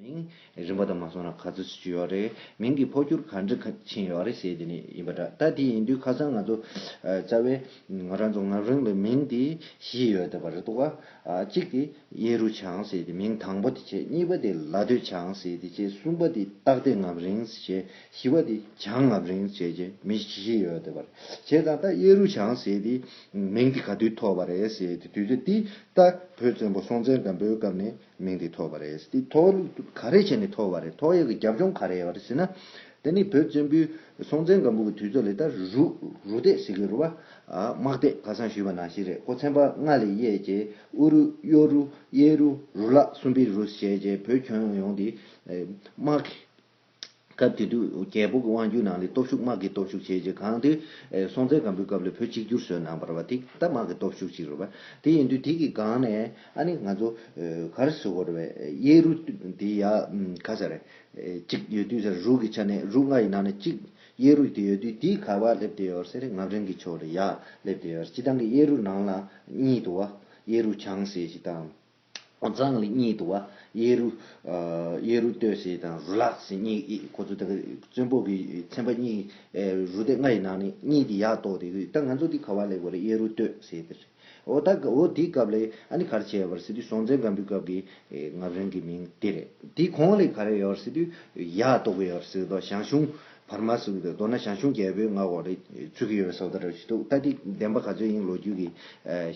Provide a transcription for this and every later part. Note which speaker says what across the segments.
Speaker 1: མིང་རིང་བོ་དང་མ་སོང་ན་ག་ཚོད་ཅིག་ཡོད་རེད། མིང་གི་འཕོ་འགྱུར་ག་འདྲ་ཕྱིན་ཡོད་རེད་ཟེར་དེ་ནས་ཡིན་པ་འདྲ། ད་དེ་ཡིན་དུས་ཁ་སང་ང་ཚོ་རྩ་བའི་ང་རང་ཚོ་ངག་རིང་ལ་མིང་དེ་བཞི་ཡོད་དེ་བ་རེད་འདུག་གཅིག་དེ་གཡས་རུ་བྱང་ཟེར་དེ་མིང་དང་པོ་དེ་བྱས་གཉིས་པ་དེ་ལ་སྟོད་བྱང་ཟེར་དེ་བྱས་གསུམ་པ་དེ་སྟག་སྡེ་ངག་རིང་བྱས་བཞི་བ་དེ་བྱང་ངག་རིང་བྱས་བྱས་མི་བཞི་ཡོད་དེ་བ་རེད་བྱས་ཙང་ད་གཡས་རུ་བྱང་ཟེར་དེ་མིང་དེ་ག་དུས་ཐོགས་པ་རེད་ཟེར་དུས་ཚོད་དེ་ད་བོད་བཙན་པོ་སྲོང་བཙན་སྒམ་པོའི་སྐབས་ནས། མིང་དེ་ཐོགས་པ་རེད། དེ་ཐོགས་ལུགས་ག་རེ་བྱས་ནས་ཐོགས་བ་རེད། ཐོགས་ཡས་ཀྱི་རྒྱབ་ལྗོངས་ག་རེད་ཟེར་ན། དེ་ནི་བོད་བཙན་པོའི་སྲོང་བཙན་སྒམ་པོ་གི་དུས་ཚོད་ལས་ད་རུག་རུག་ཏེ་ཟི་གེ་རུ་བ། དམག་སྡེ་ཁ་སང་ཞུས་པ་ནང་བཞིན་རེད་ཁོ་ཚན་པ་ལྔ་ལས་གཡས་ཀྱི་ཨུ་རུ་གཡོ་རུ་གཡས་རུ་རུ་ལག་སུམ་པི་རུ་ཞེས་བྱས་བོད་ཁྱོན་ཡོངས་དེ་དམག་གི་སྐབས་དེ་དུས་རྒྱལ་པོ་གི་དབང་བསྒྱུར་ནང་ལས་སྟོབས་ཤུགས་དམག་གི་སྟོབས་ཤུགས་བྱས་རྗེས་གང་དེ། སྲོང་བཙན་སྒམ་པོའི་སྐབས་ལས་བོད་གཅིག་གྱུར་བཟོས་གནང་བར་བ་དེ་ད་དམག་གི་སྟོབས་ཤུགས་ཅིག་རེད་བ། དེ་ཡིན་དུས་དེ་གི་སྒང་ནས་ཨ་ནི་ང་ཚོ་གར་བཟོ་བར་བའི་གཡས་རུ་དེ་ཡ་ག་ས་རེད། གཅིག་ཡོད་དུས་ས་རུ་རུ་གི་ཆ་ནས་རུ་ལྔ་ཡི་ནང་ནས་གཅིག་གཡས་རུ་དེ་ཡོད་དུས་དེའི་གར་བ་སླེབས་བསྡད་ཡོད་ཟེར་ངག་རིང་གི་ཕྱོགས་ལས་ཡ་སླེབས་བསྡད་ཡོད་ཟེར་སྤྱི་བཏང་གི་གཡས་རུ་ནང་ལ་གཉིད་དུ་བ་གཡས་རུ་བྱང་ཟེར་ཞིག་བཏང། ཛང་ལི་གཉིས་དུ་བ། ཡེ་རུ། ཡེ་རུ་ཏོས་ཞེས་དང་རུ་ལག་ཞེས་གཉིས་ཡིག་ཁོ་ཚོ་དག་གི་བཙོན་པོ་གི་ཚན་པ་གཉིས། རུ་སྡེ་ལྔ་ཡི་ནང་ནས་གཉིས་དེ་ཡག་གཏོགས་དེ་གི་ད་ང་ཚོ་འདི་ག་བ་ལེགས་པ་རེད་ཡེ་རུ་ཏོས་ཞེས་དེ་རེད། འོ་ད་འོ་དེའི་སྐབས་ལས་ཨ་ནི་ག་རེ་བྱས་ཡོད་པ་རེད་ཟེར་དུས་སྲོང་བཙན་སྒམ་པོའི་སྐབས་ཀྱི་ངག་རིང་གི་མིང་དེ་རེད། དེའི་གོང་ལས་ག་རེ་ཡོད་རེད་ཟེར་དུས་ཡག་གཏོགས་པོ་ཡོད་རེད་ཟེར་གི་འདུག་ཞང་ཞུང། བར་མ་ཟིན་པའི་མདོར་ན་ཞང་ཞུང་རྒྱལ་པོའི་མངའ་འོག་རེད་ཚུད་ཀྱི་ཡོད་པའི་སོགས་ལྟར་ར་བཞི་འདུག་ལྟ་དེ་བདེན་པ་ག་ཚོད་ཡིན་ལོ་རྒྱུས་ཀྱི་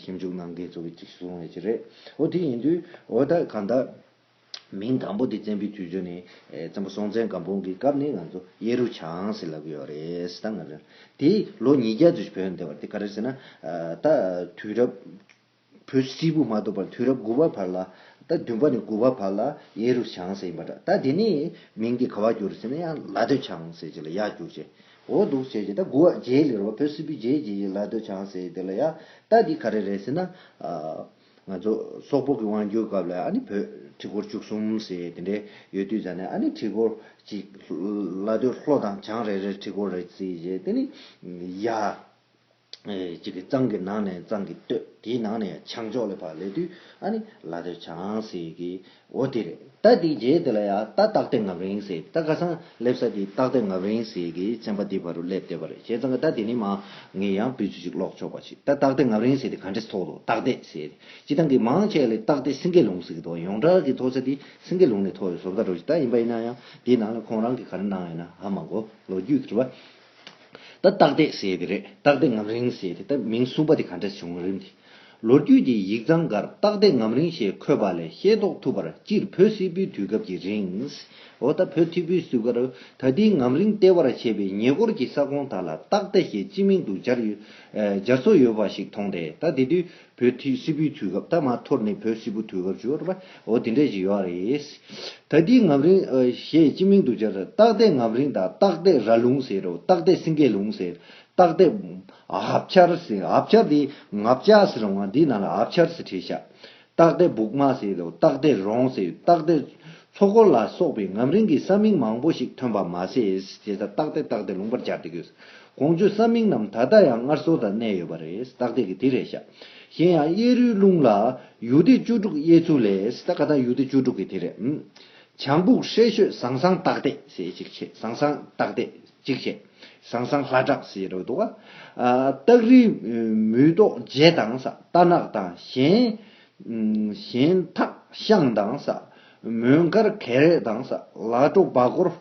Speaker 1: ཞིབ་འཇུག་གནང་མཁན་ཚོ་གཅིག་གསུང་བའི་ཆེད་རེད། འོ་དེ་ཡིན་དུས་འོ་ད་གང་ལྟར། མིང་དང་པོ་དེ་བཙན་པོའི་དུས་ཚོད་ནས་བཙན་པོ་སྲོང་བཙན་སྒམ་པོ་གི་སྐབས་ནས་ང་ཚོ་གཡས་རུ་བྱང་ཟེར་ལབ་ཀྱི་ཡོད་རེད་ཟེར་ད་ང་རང་དེ་ལོ་ཉིས་བརྒྱ་དུས་བོད་ནས་བདེ་བར་དེ་ག་རེ་ཟེར་ན་ད་དུས་རབས། བོད་སིལ་བུ་མ་གཏོགས་པར་དུས་རབས་དགུ་བ་བར་ལ། ད་བདུན་པ་ནས་དགུ་བ་བར་ལ་གཡས་རུ་བྱང་ཟེར་ཡིན་པ་འདྲ་ད་དེ་ནས་མིང་དེ་ག་བར་གྱུར་ཟེར་ན་ཡང་ལ་སྟོད་བྱང་ཟེར་གྱི་ལ་ཡག་གྱུར་ཅེས་འོ་འདུག་བྱས་ཀྱི་ད་དགུ་བ་རྗེའི་ལེ་རོ་བ་བོད་སིལ་བུའི་རྗེའི་རྗེས་ཀྱི་ལ་སྟོད་བྱང་ཟེར་དེ་ལ་ཡག་ད་འདི་ག་རེ་རེད་ཟེར་ན། ང་ཚོ་སོག་པོ་གི་དབང་བསྒྱུར་སྐབས་ལ་ཨ་ནི་བོད་ཁྲི་སྐོར་བཅུ་གསུམ་ཟེར་དེ་འདྲས་ཡོད་དུས་ད་ནི་ཨ་ནི་ཁྲི་སྐོར་གཅིག་ལ་སྟོད་ལྷོ་དང་བྱང་རེ་རེར་ཁྲི་སྐོར་རེ་བརྩིས་ཞེས་དེ་ནི་ཡག། གཅིག་གི་གཙང་གི་ནང་ནས་གཙང་གི་སྟོད་དེའི་ནང་ནས་བྱང་ཕྱོགས་ལས་བར་ལས་དུས་ཨ་ནི་ལ་དོད་བྱང་ཟེར་གི་འོ་དེ་རེད་ད་དེའི་རྗེས་དེ་ལ་ཡ་ད་སྟག་སྟེང་ངབ་རིང་ཟེར་ད་ཁ་སང་སླེབ་ས་དེའི་སྟག་སྟེང་ངབ་རིང་ཟེར་གི་ཚན་པ་དེའི་བར་རུ་སླེབ་བསྡད་པ་རེད་བྱས་ཙང་ད་དེ་ནི་མ་ངས་ཡང་བུ་ཚུ་གཅིག་ཀློག་ཆོག་པ་ཞིག་ད་སྟག་སྟེང་ངབ་རིང་ཟེར་དེ་ག་འདྲེ་ཐོག་ལོ་སྟག་སྡེས་ཟེར་སྤྱི་སྟངས་ཀྱི་མང་ཆེ་ལས་སྟག་སྡེ་སེང་གེ་ལུང་ཟེར་གི་འདུག་ཡོངས་གྲགས་ཀྱི་མཐོ་ས་དེ་སེང་གེ་ལུང་ནས་མཐོ་བའི་བཟོ་བཀའ་འགྲོ་ཞིག་ད་ཡིན་པ་ཡིན་ན་ཡང་དེའི་ནང་ལ་ཁོང་རང་གི་ག་རེ་གནང་ཡོད་ན་ཧ་མ་གོ་ལོ་རྒྱུས་ཀྱི་དྲི་བ་ད་སྟག་སྡེ་ཟེར་ཡས་དེ་རེད་སྟག་སྡེ་ངམ་རིང་ཟེར་ཡས་དེ་ད་མིང་གསུངས་པ་དེ་ག་འདྲ་བྱུང་རིམ་དེ། ལོ་རྒྱུས་ཀྱི་ཡིག་ཚང་འགར་སྟག་སྡེ་ངམ་རིང་ཞེས་འཁོད་པ་ལས་ཤེས་རྟོགས་ཐུབ་པར་སྤྱིར་བོད་སིལ་བུའི་དུས་སྐབས་ཀྱི་རིང། འོ་ད་བོད་ཐིག་བུའི་སིལ་བུ་ཀར་ད་ལྟའི་ངམ་རིང་ལྟེ་བར་བྱས་པའི་ཉེ་འཁོར་གྱི་ས་ཁོངས་དག་ལ་སྟག་སྡེ་ཞེས་སྤྱི་མིང་དུ་སྦྱར་སྲོལ་ཡོད་པ་ཞིག་མཐོང་སྟེ་ད་དེ་དུས་བོད་ཐི་སི་པུའི་དུས་སྐབས་ད་མ་འཐོར་ནས་བོད་སི་པུ་དུས་སྐབས་བྱུ་བ་རེད་པ། འོ་དེ་འདྲས་ཞིག་ཡོད་རེད། ད་དེའི་ངམ་རིང། ཞེས་སྤྱི་མིང་དུ་སྦྱར། སྟག་རྡེ་ངམ་རིང་དང་སྟག་རྡེ་ར་ལུང་ཟེར་རོ། སྟག་རྡེ་སིང་གེ་ལུང་ཟེར། སྟག་རྡེ། ཧབ་ཆར་ཟེར། ཧབ་ཆར་དེ་ངབ་བཅག་ཟེར་རུང་ང་འདི་ནང་ལ་ཧབ་ཆར་ཟེར་ཁྲེལ་བཤད། སྟག་རྡེ་སྦུག་མ་ཟེར་རོ། སྟག་རྡེ་རོང་ཟེར། སྟག་རྡེ། ཚོགས་འཁོར་ལ་སོགས་པའི་ངམ་རིང་གི་ས་མིང་མང་པོ་ཞིག་ཐོན་པ་མ་ཟད་ཞེས་བཏགས་ཏེ་བཏགས་ཏེ་ལུང་པར་སྦྱར་ཏེ་དགོས། གོང་བརྗོད་ས་མིང་རྣམས་ད་ལྟ་ཡང་སྔར་སྲོལ་དང་གནས་ཡོད་པ་རེད་བཏགས་ཏེ་གི་དེ་རེད་བཞག། གཞན་ཡང་གཡས་རུའི་ཀླུང་ལ། ཡུལ་སྡེ་བཅུ་དྲུག་གཡས་ཚུལ་ལས་བཏགས་ཀ་ད་ཡུལ་སྡེ་བཅུ་དྲུག་གི་དེ་རེད། བྱང་སྦུག་ཧྲེ་ཤོད་ཟང་ཟང་བཏགས་ཏེ་ཞེས་གཅིག་བྱས་ཟང་ཟང་བཏགས་ཏེ་གཅིག་བྱས། ཟང་ཟང་ལྷ་བྲག་ཞེས་རོལ་འདུག། སྟག་རི། མུས་ཏོག་རྗེ་དང་ས་རྟ་ནག་དང་གཞན། གཞན་དག་ཤངས་མདངས་ཟ། མོན་དཀར་གད་རས་མདངས་ཟ། ལ་སྤྲོ་སྦ་གོར།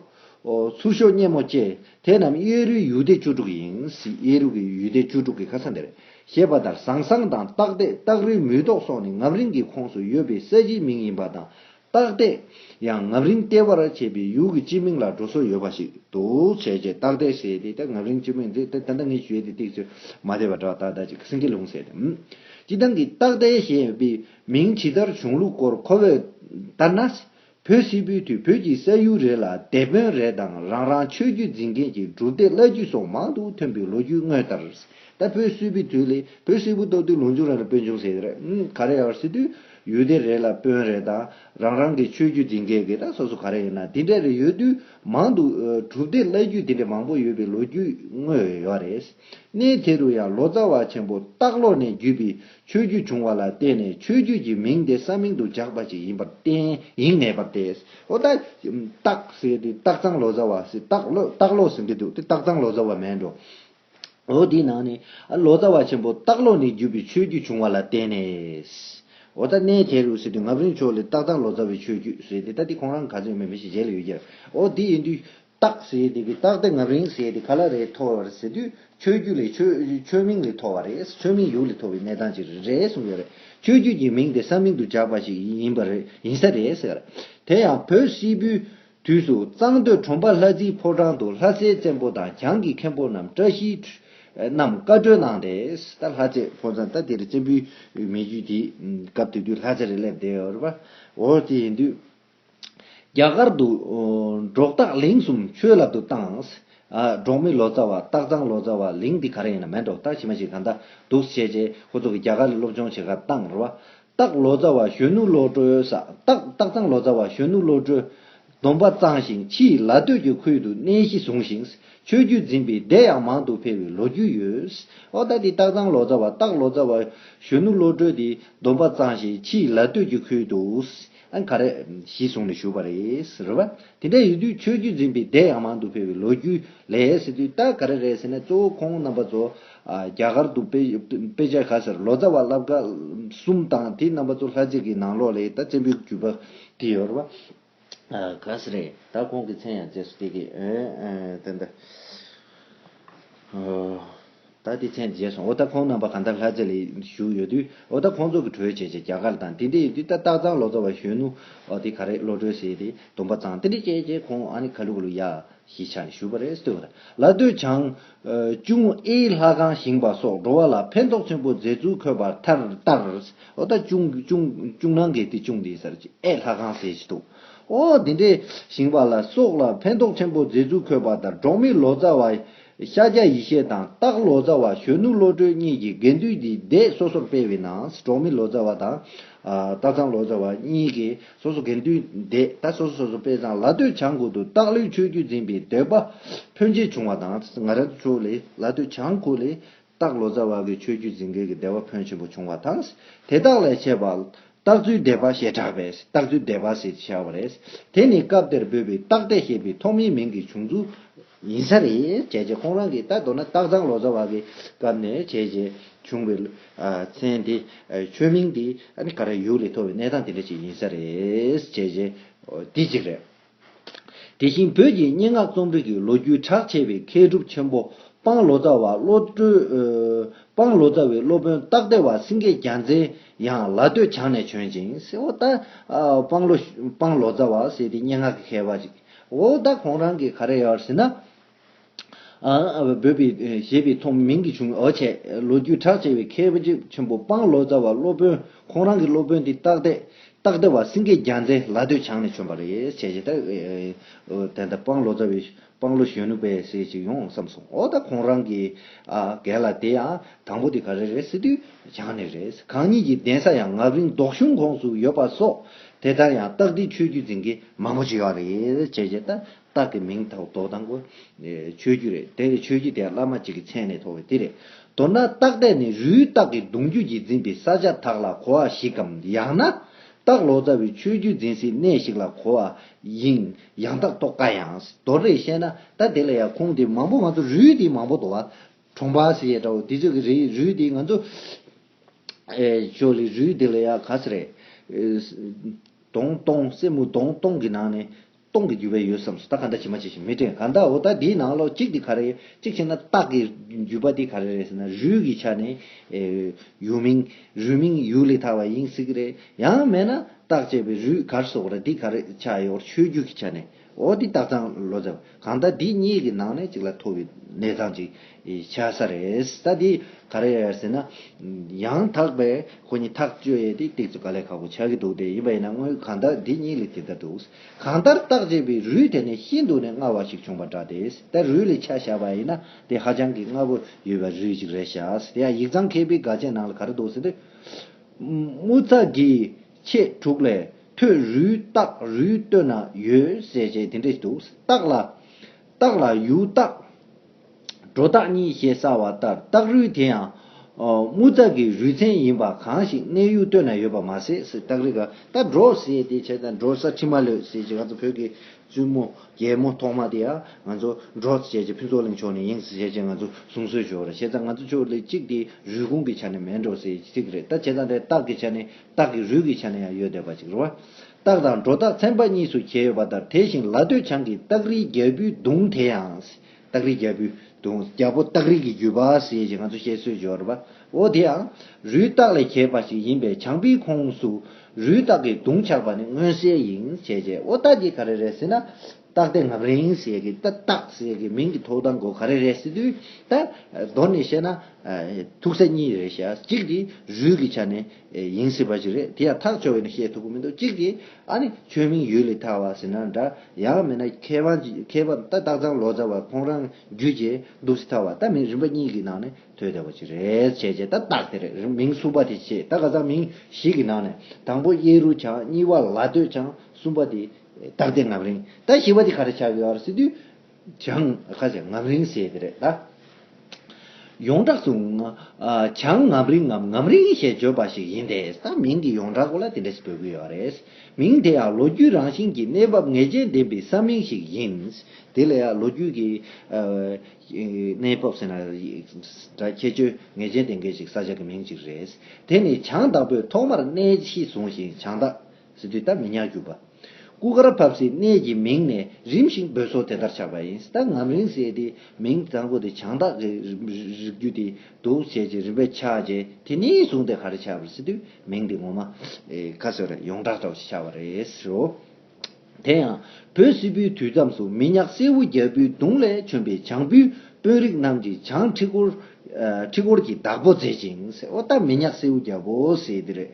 Speaker 1: ཚུར་ཤོག་སྙེ་མོ་བཅས་དེ་རྣམས་གཡས་རུའི་ཡུལ་སྡེ་བཅུ་དྲུག་ཡིན་སྲིད་གཡས་རུ་གི་ཡུལ་སྡེ་བཅུ་དྲུག་གི་ཁ་ས་འདིར་ཞེས་པ་ལྟར་ཟངས་སངས་དང་སྟག་སྟེགས་སྟག་རུའི་མུས་ཏོག་སོགས་ནི་ངམ་རིང་གི་ཁོངས་སུ་ཡོད་པའི་ས་གཞིའི་མིང་ཡིན་པ་དང་སྟག་གཏད། ཡང་ངམ་རིང་གཏད་པར་བྱེད་པའི་ཡུལ་གྱི་སྤྱི་མིང་ལ་འགྲོ་སྲོལ་ཡོད་པ་ཞིག་འདུག་བྱས་རྗེས་སྟག་གཏད་ཟེར་ཏེ་ད་ངམ་རིང་སྤྱི་མིང་འདི་ད་ལྟ་ངས་བརྗོད་དེ་བཏེགས་ཚོད་མ་བསྡད་པ་འདྲ་བ་ད་ལྟ་ཅིག་སེང་གེ་ལུང་ཟེར་ཏེ། སྤྱི་སྟངས་ཀྱིས་སྟག་གཏད་ཞེས་པའི་མིང་ཇི་ལྟར་བྱུང་ལུགས་སྐོར་ཁོ་བོས་ལྟར་ན། བོད་སིལ་བུའི་དུས་བོད་ཀྱི་ས་ཡུལ་རེ་ལ་སྡེ་དཔོན་རེ་དང་རང་རང་ཆོས་བརྒྱུད་འཛིན་མཁན་གྱི་སྒྲུབ་སྡེ་བླ་བརྒྱུད་སོགས་མང་དུ་ཐོན་པའི་ལོ་རྒྱུས་དངོས་ལྟར། ད་བོད་སིལ་བུའི་དུས་ལས་བོད་སིལ་བུ་གཏོགས་དུས་ལུང་ཆུང་རེ་ལ་དཔོན་ཆུང་ཟེར། ག་རེ་ཡང་སྲིད་དུས། ཡུལ་སྡེ་རེ་ལ་དཔོན་རེ་དང་རང་རང་གི་ཆོས་བརྒྱུད་འཛིན་མཁན་གྱི་ད་སོ་སོ་ག་རེ་ཡིན་ན་དེ་འདྲ་རེ་ཡོད་དུས་མང་འདུག་གྲུབ་སྡེ་བླ་བརྒྱུད་དེ་འདྲ་མང་པོ་ཡོད་པའི་ལོ་རྒྱུས་དངོས་ཡོད་ཡོད་རེད། གནས་དེ་རུ་ཡང་ལོ་ཙཱ་བ་ཆེན་པོ་སྟག་ལོ་ནས་བརྒྱུད་པའི་ཆོས་བརྒྱུད་བྱུང་བ་ལ་བརྟེན་ནས་ཆོས་བརྒྱུད་ཀྱི་མིང་དེ་ས་མིང་དུ་བཞག་པ་ཞིག་ཡིན་པར་བརྟེན་ཡིན་ངེས་པར་ཏེ། འོ་ད། སྟག་ཟེར་དེ་སྟག་ཚང་ལོ་ཙཱ་བ་ཟེར་སྟག་ལོ་སྟག་ལོ་ཟེར་གྱི་འདུག་དེ་སྟག་ཚང་ལོ་ཙཱ་བ་མེད་འགྲོ། འོ་དེའི་ནང་ནས་ལོ་ཙཱ་བ་ཆེན་པོ་སྟག་ལོ་ནས་བརྒྱུད་པའི་ཆོས་བརྒྱུད་བྱུང་བ་ལ་བརྟེན་ནས། འོ་ད་གནས་དེ་རུ་ཟེར་དུས་ངབ་རིན་ཆོས་ལས་སྟག་དང་ལོ་ཙཱ་བའི་ཆོས་བརྒྱུད་ཟེར་ཏེ་ད་དེ་ཁོང་རང་ག་ཚོད་མིན་མི་ཤེས་གཞན་ལ་ཡོད་རྒྱུ་རེད། འོ་དེ་ཡིན་དུས་སྟག་ཟེར་དེ་གི་སྟག་དེ་ངབ་རིན་ཟེར་དེ་ག་ལ་རེད་ཐོར་བ་རེད་ཟེར་དུས་ཆོས་བརྒྱུད་ལས་ཆོས་མིང་ལས་ཐོར་བ་རེད་ཆོས་མིང་ཡུག་ལས་ཐོར་བའི་གནས་སྟངས་ཅིག་རེད་གསུངས་ཡོད་རེད། ཆོས་བརྒྱུད་ཀྱི་མིང་དེ་ས་མིང་དུ་བཞག་པ་ཞིག་ཡིན་པ་རེད་ཡིན་ས་རེད་ཟེར། དེ་ཡང་བོད་སིལ་བུའི། དུས་སུ་གཙང་སྟོད་གྲོང་པ་ལྷ་རྩིའི་ཕོ་བྲང་དུ་ལྷ་སའི་བཙན་པོ་དང་གྱང་གི་མཁན་པོ་རྣམས་བཀྲ་ཤིས་རྣམས་བཀའ་བགྲོས་གནང་སྟེ། ད་ལྷ་རྩེ་ཕོ་བྲང་ད་དེར་བཙན་པོའི་མེ་རྒྱུད་དེ་སྐབས་དེ་དུས་ལྷ་རྩེ་རེད་སླེབས་བསྡད་ཡོད་རེད་པ། འོ་དེ་ཡིན་དུས། རྒྱ་གར་དུ་འབྲོག་སྟག་ལིང་གསུམ་ཆོས་བསླབ་ཏུ་བཏང། འབྲོག་མི་ལོ་ཙཱ་བ་སྟག་ཚང་ལོ་ཙཱ་བ་ལིང་འདི་ག་རེ་ཡིན་ན་མེད་འབྲོག་སྟག་ཕྱི་མ་ཞིག་ག་འདྲ་འདུག་བྱས་རྗེས་ཁོ་ཚོ་གི་རྒྱ་གར་སློབ་སྦྱོང་བྱེད་ཁར་བཏང་རེད་པ། སྟག་ལོ་ཙཱ་བ་གཞོན་ནུ་བློ་གྲོས། སྟག་ཚང་ལོ་ཙཱ་བ་གཞོན་ནུ་བློ་གྲོས། སྡོམ་པ་གཙང་ཞིང་ཕྱི་ཡི་ལ་སྟོད་ཀྱི་ཁུལ་དུ་གནས་གཞི་བཟུང་ཞིང་ཆོས་བརྒྱུད་འཛིན་པའི་སྡེ་ཡང་མང་དུ་འཕེལ་བའི་ལོ་རྒྱུས་ཡོད། ཨོ་ད་དེ་སྟག་ཚང་ལོ་ཙཱ་བ་སྟག་ལོ་ཙཱ་བ་གཞོན་ནུ་བློ་གྲོས་དེ་སྡོམ་པ་གཙང་ཞིང་ཕྱི་ཡི་ལ་སྟོད་ཀྱི་ཁུལ་དུ། ཨ་ག་རེད། ཞེས་གསུངས་ནས་བཞུགས་པ་རེད། རེད་བ། དེ་འདྲ་ཡོད་དུས་ཆོས་བརྒྱུད་འཛིན་པའི་སྡེ་ཡང་མང་དུ་འཕེལ་བའི་ལོ་རྒྱུས་ལས་ཟེར་དུས་ད་ག་རེ་རེད་ཟེར་ན་གཙོ་བོ་ཁོང་རྣམ་པ་ཚོ། རྒྱ་གར་དུ་དཔེ་ཆ་ག་ཟེར་ལོ་ཙཱ་བ་བླ་བཀའ་གསུམ་དང་དེ་རྣམ་པ་ཚོ་ལྷ་རྗེ་གི་ནང་ལོགས་ལས་ད་བཙན་པོའི་བརྒྱུད་པ་དེ་ཡོད་རེད་བ། ག་ཟེ་རེད་ད་ཁོང་གི་མཚན་ཡང་རྗེས་སུ་སྟེར་གི། ཨོ། ད་ལྟའི་མཚན་བརྗེས་སོང་འོ་ད་ཁོང་རྣམ་པ་གང་ལྟར་ལྷ་རྩེ་ལ་བཞུགས་ཡོད་དུས་འོ་ད་ཁོང་ཚོ་གི་གྲོས་བྱེད་ཆེད་རྒྱ་གར་དང་དེ་འདྲའི་ཡོད་དུས་ད་སྟག་ཚང་ལོ་ཙཱ་བ་གཞོན་ནུ་འོ་དེ་ག་རེ་བློ་གྲོས་ཟེར་དེ་དུམ་པ་ཚང་དེ་འདྲས་བྱས་རྗེས་ཁོང་ཨ་ནི་ཁ་ལུ་ཁ་ལུ་ཡ་ཞེས་ཆགས་ནས་བཞུགས་པ་རེད་ཟེར་ལ་ལྟོས་བྱང། ཅུང་ཨེ་ལྷ་ཁང་བཞེངས་པ་སོགས་འགྲོ་བ་ལ་ཕན་ཐོགས་ཆེན་པོ་མཛད་ཚུལ་འཁོད་པར་མཐར་ལྟར་འོ་ད་ཅུང་ཅུང་ནང་གི་དེ་ཅུང་འདི་ཟེར་ཅིག་ཨེ་ལྷ་ཁང་ཟེར་གྱི་འདུག་འོ་དེ་འདྲས་བཞེངས་པ་ལ་སོགས་ལ་ཕན་ཐོགས་ཆེན་པོ་མཛད་ཚུལ་འཁོད་པ་ལྟར་འབྲོག་མི་ལོ་ཙཱ་བ་ཤཱཀྱ་ཡེ་ཤེས་དང་སྟག་ལོ་ཙཱ་བ་གཞོན་ནུ་བློ་གྲོས་གཉིས་ཀྱིས་དགེ་འདུན་གྱི་སྡེ་སོ་སོར་སྤེལ་བའི་ནང་གྲོང་མི་ལོ་ཙཱ་བ་དང། སྟག་ཚང་ལོ་ཙཱ་བ་གཉིས་ཀྱིས་སོ་སོ་དགེ་འདུན་སྡེ་ད་སོ་སོ་སོར་སྤེལ་ཙང་ལ་སྟོད་བྱང་ཁུལ་དུ་སྟག་ལོའི་ཆོས་བརྒྱུད་འཛིན་པའི་འདོད་པ་ཕོན་ཆེ་བྱུང་བ་དང་ང་ར་ཚོ་ལས་ལ་སྟོད་བྱང་ཁུལ་ལས་སྟག་ལོ་ཙཱ་བ་གའི་ཆོས་བརྒྱུད་འཛིན་མཁན་གྱི་སྡེ་བ་ཕོན་ཆེན་པོ་བྱུང་བ་དང། དེ་དག་ལས་ཆད་པ། སྟག་མཛོད་སྡེ་པ་ཞེས་གྲགས་པས་སྟག་མཛོད་སྡེ་པ་ཞེས་བྱ་བ་རེད། དེ་ནི་སྐབས་དེར་འབོད་པའི་སྟག་སྡེ་ཞེས་པའི་ཐོག་མའི་མིང་གི་བྱུང་ཚུལ་ཡིན་ས་རེད། བྱས་རྗེས་ཁོང་རང་གིས་ད་གདོད་ན་སྟག་ཚང་ལོ་ཙཱ་བ་གའི་སྐབས་ནས་བྱས་རྗེས་བྱུང་བའི་མཚན་དེ། ཆོས་མིང་དེ་ག་རེ་ཡོད་རེ་ཐོག་བའི་གནས་སྟངས་དེ་འདྲ་ཞིག་ཡིན་ས་རེད། བྱས་རྗེས་དེ་གཅིག་རེད། དེ་བཞིན་བོད་ཀྱི་སྙན་ངག་རྩོམ་རིག་གི་ལོ་རྒྱུས་གྲགས་ཆེ་བའི་མཁས་གྲུབ་ཆེན་པོ་སྤང་ལོ་ཙཱ་བ་བློ་གྲོས། སྤང་ལོ་ཙཱ་བའི་སློབ་དཔོན་སྟག་སྡེ་བ་སེང་གེ་རྒྱ་མཚན་ཡང་ལ་སྟོད་བྱང་ནས་བྱོན་ཅིང་སེ་འོ་ད། སྤང་ལོ། སྤང་ལོ་ཙཱ་བ་ཟེར་དེ་སྙན་ངག་གི་མཁས་པ་ཞིག། འོ་ད་ཁོང་རང་གིས་ག་རེ་ཡར་ཟེར་ན། འབོད་པའི་བཞེད་པའི་ཐོག་མིང་གི་བྱུང་བ་བྱས། ལོ་རྒྱུས་གྲགས་ཆེ་བའི་མཁས་པ་རྗེ་ཆེན་པོ་དཔང་ལོ་ཙཱ་བ་སློབ་དཔོན་ཁོང་རང་གི་སློབ་དཔོན་དེ་སྟག་སྡེ་སྟག་སྡེ་བ་སེང་གེ་རྒྱ་མཚན་ལ་སྟོད་བྱང་ནས་བྱོན་པ་རེད་བྱས་བྱས་ཐག་དེ་ལྟར་དཔང་ལོ་ཙཱ་བའི་དཔང་ལོ་གཞོན་ནུ་པའི་སྲས་ཅིག་ཡོང་བསམ་སོང་འོ་ད་ཁོང་རང་གི་གལ་ལ་དེ་ཡང་དང་པོ་དེ་ག་རེ་རེད་སེ་སྟོད་བྱང་ནས་རེད་གང་ཉིད་ཀྱི་གདན་ས་ཡང་ངག་རིང་རྡོག་གཞུང་ཁོངས་སུ་ཡོད་པ་སོགས་དེ་ལྟར་ཡང་སྟག་སྡེའི་ཆོས་བརྒྱུད་འཛིན་མཁན་མང་པོ་ཅིག་ཡོད་རེད་བྱས་བྱས་ཐག་སྟག་གི་མིང་དག་དོག་དང་པོ། ཆོས་རྒྱུད་རེད་དེ། ཆོས་རྒྱུད་དེ་བླ་མ་གཅིག་གི་མཚན་ནས་ཐོགས་པའི་དེ་རེད། མདོར་ན་སྟག་ལྡེ་ནི་རུའི་སྟག་གི་གདུང་རྒྱུད་ཀྱིས་འཛིན་པའི་ས་ཆ་དག་ལ་གོ་བ་ཞིག་གམ་ཡང་ན། སྟག་ལོ་ཙཱ་བའི་ཆོས་རྒྱུད་འཛིན་སའི་གནས་ཤིག་ལ་གོ་བ་ཡིན་ཡང་དག་རྟོགས་དཀའ་ཡང། མདོར་རེ་བཤད་ན་ད་དེ་ལ་ཡང་ཁུངས་དེ་མང་པོ་ང་ཚོ་རུའི་དེ་མང་པོ་དོ་བ། གྲོང་པ་ཟེར་ཡས་ཏྲའོ་དེ་ཚོས་ཀྱི་རེད་རུའི་དེ་ང་ཚོ། ཞོ་ལི་རུའི་དེ་ལ་ཡང་ག་ས་རེད། དོང་སྟོང་སྲས་མོ་དོང་སྟོང་གི་ནང་ནས་སྟོང་གི་རྒྱུ་བས་ཡོད་བསམས་སོ་ད་ག་འདྲ་བྱེད་མ་བྱེད་ཞེས་མི་དྲན་ག་འདྲ་འོ་ད་འདིའི་ནང་ལོགས་གཅིག་འདི་ག་རེ་གཅིག་བྱས་ན་རྟགས་ཀྱི་རྒྱུད་པ་འདི་ག་རེ་རེད་ཟེར་ན་རུས་ཀྱི་ཆ་ནས་ཡུལ་མིང་རུས་མིང་ཡུལ་ལས་ཐར་བ་ཡིན་སྲིད་ཀྱི་རེད་ཡང་མེད་ན་རྟགས་བྱས་པའི་རུས་གར་སོགས་རེ་འདི་ག་རེ་ཆ་ཡོར་ཆོས་རྒྱུད་ཀྱི་ཆ་ནས་འོ་འདི་རྟགས་ཚང་ལོ་ཟེར་བ་གང་ལྟར་འདི་གཉིས་ཀྱི་ནང་ནས་གཅིག་ལ་མཐོ་བའི་གནས་ཚང་ཅིག་བྱ་ས་རེད། ད་འདི་ག་རེད་ཟེར་ན། ཡང་དག་པའི་ཁོ་གཉིས་ཐག་གཅོད་ཡས་དེ་སྟེགས་སུ་ག་ལས་ཁག་པོ་ཆགས་ཀྱི་འདུག་དེ་ཡིན་པ་ཡིན་ན་དངོས་གང་ལྟར་འདི་གཉིས་ལས་དེ་ལྟར་འདུག་གང་ལྟར་བརྟག་དཔྱད་པའི་རུས་དེ་ནི་ཤིན་ཏུ་ནས་སྔ་བ་ཞིག་བྱུང་བ་འདྲ་དེ་ལྟར་རུས་ལས་ཆ་བཞག་པ་ཡིན་ན་དེ་ཧ་ཅང་གི་སྔ་བོ་ཡོད་པའི་རུས་ཅིག་རེད་ཤག་དེ་ཡང་ཡིག་ཚང་མཁས་པའི་དགའ་ཆས་ནང་ལ་ག་རེ་འདུག་ཟེར་དུས། དམུ་རྩ་དགེ་བཤེས་དྲུག་ལས་ཐོས་རུས་སྟག་རུས་སྟོད་ན་ཡོད་ཟེར་བྱས་དེ་འདྲས་ཤིག་འདུག་སྟག་ལ། རྟགས་ལ་ཡུལ་རྟགས། སྒྲོ་རྟགས་གཉིས་ཞེས་གསལ་བ་ལྟར་རྟགས་རུས་དེ་ཡང། དམུ་རྟགས་ཀྱི་རུས་ཚན་ཡིན་པ་གང་ཞིག་གནས་ཡུལ་སྟོད་ན་ཡོད་པར་མ་ཟད་ཟེར་རྟགས་རིགས་ཀ་ད་གྲོ་ཟེར་དེ་བྱས་ཙང་གྲོ་ས་ཁྲི་མ་ལོད་ཟེར་གྱི་ང་ཚོ་བོད་ཀྱི་བཙུན་མོ་རྒྱལ་མོ་ཐོག་མ་དེ་ཡང་ང་ཚོ་གྲོ་ཟེར་གྱི་ཕུན་ཚོགས་གླིང་ཕྱོགས་ནས་ཡིན་ཟེར་གྱི་ང་ཚོ་གསུང་སྲོལ་བྱུང་བ་རེད་བྱས་ཙང་ང་ཚོ་ཕྱོགས་ལས་གཅིག་དེ་རུས་ཁུངས་ཀྱི་ཆ་ནས་མེད་འགྲོ་ཟེར་གྱི་ཚིག་རེད་ད་བྱས་ཙང་དེ་རྟགས་ཀྱི་ཆ་ནས་རྟགས་ཀྱི་རུས་ཀྱི་ཆ་ནས་ཡང་ཡོད་བསྡད་པ་ཅིག་རེད་བ། སྟག་དང་སྒྲོ་སྟག་ཚན་པ་གཉིས་སུ་གྱེས་ཡོད་པ་ལྟར་དེ་བཞིན་ལ་སྟོད་བྱང་གི་སྟག་རིའི་རྒྱལ་པོའི་གདུང་དེ་ཡང། སྟག་རིའི་རྒྱལ་པོའི་གདུང། རྒྱལ་པོ་སྟག་རིག་གི་རྒྱུད་པ་ཞེས་ང་ཚོ་བཤད་སྲོལ་འབྱོར་བ་འོ་དེ་ཡང་རུས་སྟག་ལས་གྱེས་པ་ཞིག་ཡིན་པས་བྱང་པའི་ཁོངས་སུ་རུས་སྟག་གི་གདུང་ཆགས་པ་ནི་མངོན་གསལ་ཡིན་བྱས་རྗེ་འོ་སྟག་གི་ག་རེ་རེད་ཟེར་ན། སྟག་སྡེ་ངག་རིང་ཟེར་གི་ད་སྟག་ཟེར་གི་མིང་གི་ཐོག་དང་གོ་ག་རེ་རེད་ཟེར་དུས་ད་གདོད་ནས་བཤད་ན་ཐུག་ས་གཉིས་རེད་ཤག་གཅིག་གིས་རུས་ཀྱི་ཆ་ནས་ཡིན་སྲིད་པ་ཞིག་རེད་དེ་ཡང་ཐག་ཆོད་བས་ན་བཤད་ཐུབ་ཀྱི་མི་འདུག་གཅིག་གིས་ཨ་ནི་ཆོས་མིང་ཡུལ་ལས་ཐར་བ་ཟེར་ན་འདྲ་ཡང་མེད་ན་མཁས་པ་མཁས་པ་ད་སྟག་ཚང་ལོ་ཙཱ་བ་ཁོང་རང་རྒྱུད་ཀྱི་འདུག་སྲིད་ཐར་བ་ད་མིང་རིམ་པ་གཉིས་ཀྱི་ནང་ནས་ཐོས་བསྡད་པ་ཞིག་རེད་བྱས་བྱས་ད་སྟག་དེ་རེད་མིང་གསུམ་པ་དེ་བྱས་ད་ག་ཚང་མིང་བཞི་གི་ནང་ནས་དང་པོ་གཡས་རུ་ཆང་གཉིས་པ་ལ་སྟོད་ཆང་གསུམ་པ་དེ་རྟགས་དེ་ངམ་རིང་ད་ཞི་བ་དེ་ག་རེ་བྱ་བའི་བར་སྲིད་དུས་བྱང། ཁ་ཟེར་ངམ་རིང་ཟེར་གི་རེད་ད། ཡོངས་གྲགས་སུ། བྱང་ངམ་རིང་ངམ་ངམ་རིང་ཞེས་བརྗོད་པ་ཞིག་ཡིན་ཏེ་ད་མིང་གི་ཡོངས་གྲགས་སྐོར་ལ་དེ་འདྲ་ཞིག་འབོད་ཀྱི་ཡོད་རེད། མིང་དེ་ཡང་ལོ་རྒྱུས་རང་བཞིན་གྱི་གནས་བབ་ངེས་ཅན་ལྡན་པའི་ས་མིང་ཞིག་ཡིན། དེ་ལ་ཡང་ལོ་རྒྱུས་ཀྱི། གནས་བབ་ཟེར་ན། འདྲ་ཁྱད་ཆོས་ངེས་ཅན་ལྡན་མཁན་ཞིག་ས་ཆ་གི་མིང་ཅིག་རེད། དེ་ནི་བྱང་བདག་པོས་ཐོག་མར་གནས་གཞི་བཟུང་ཞིང་བྱང་བདག། ཟེར་དུས་སྟབས་མི་ཉག་གྱུར་པ། སྐུ་གར་བབས་སའི་གནས་ཀྱི་མིང་ནས་རིམ་བཞིན་འབོད་སོ་དེ་ལྟར་ཆགས་པ་ཡིན་སྟབས་ངམ་རིང་བསྲེལ་དེའི་མིང་གཙང་པོ་དེ་བྱང་བདག་གི་རིགས་རྒྱུད་དེའི་གདུགས་བྱེད་ཀྱི་རིམ་པས་ཆགས་རྗེས་དེ་ནས་བཟུང་སྟེ་ག་རེ་ཆགས་པར་ཟེར་དུས་མིང་དེ་ངོ་མ། ཁ་སོས་རེད་ཡོངས་གྲགས་གྲགས་ཞེས་ཆགས་པ་རེད་ཟེར་རོ། དེ་ཡང་བོད་བསིལ་བུའི་དུས་མཚམས་སུ་མི་ཉག་སེར་བོ་རྒྱལ་པོའི་གདུང་ལས་བྱོན་པའི་བྱང་བུའི་དཔོན་རིགས་རྣམས་ཀྱིས་བྱང་ཁྲི་སྐོར་གྱི་བདག་པོ་མཛད་ཅིང། སྟབས་མི་ཉག་སེར་བོ་རྒྱལ་པོ་ཟེར་དེ་རེད།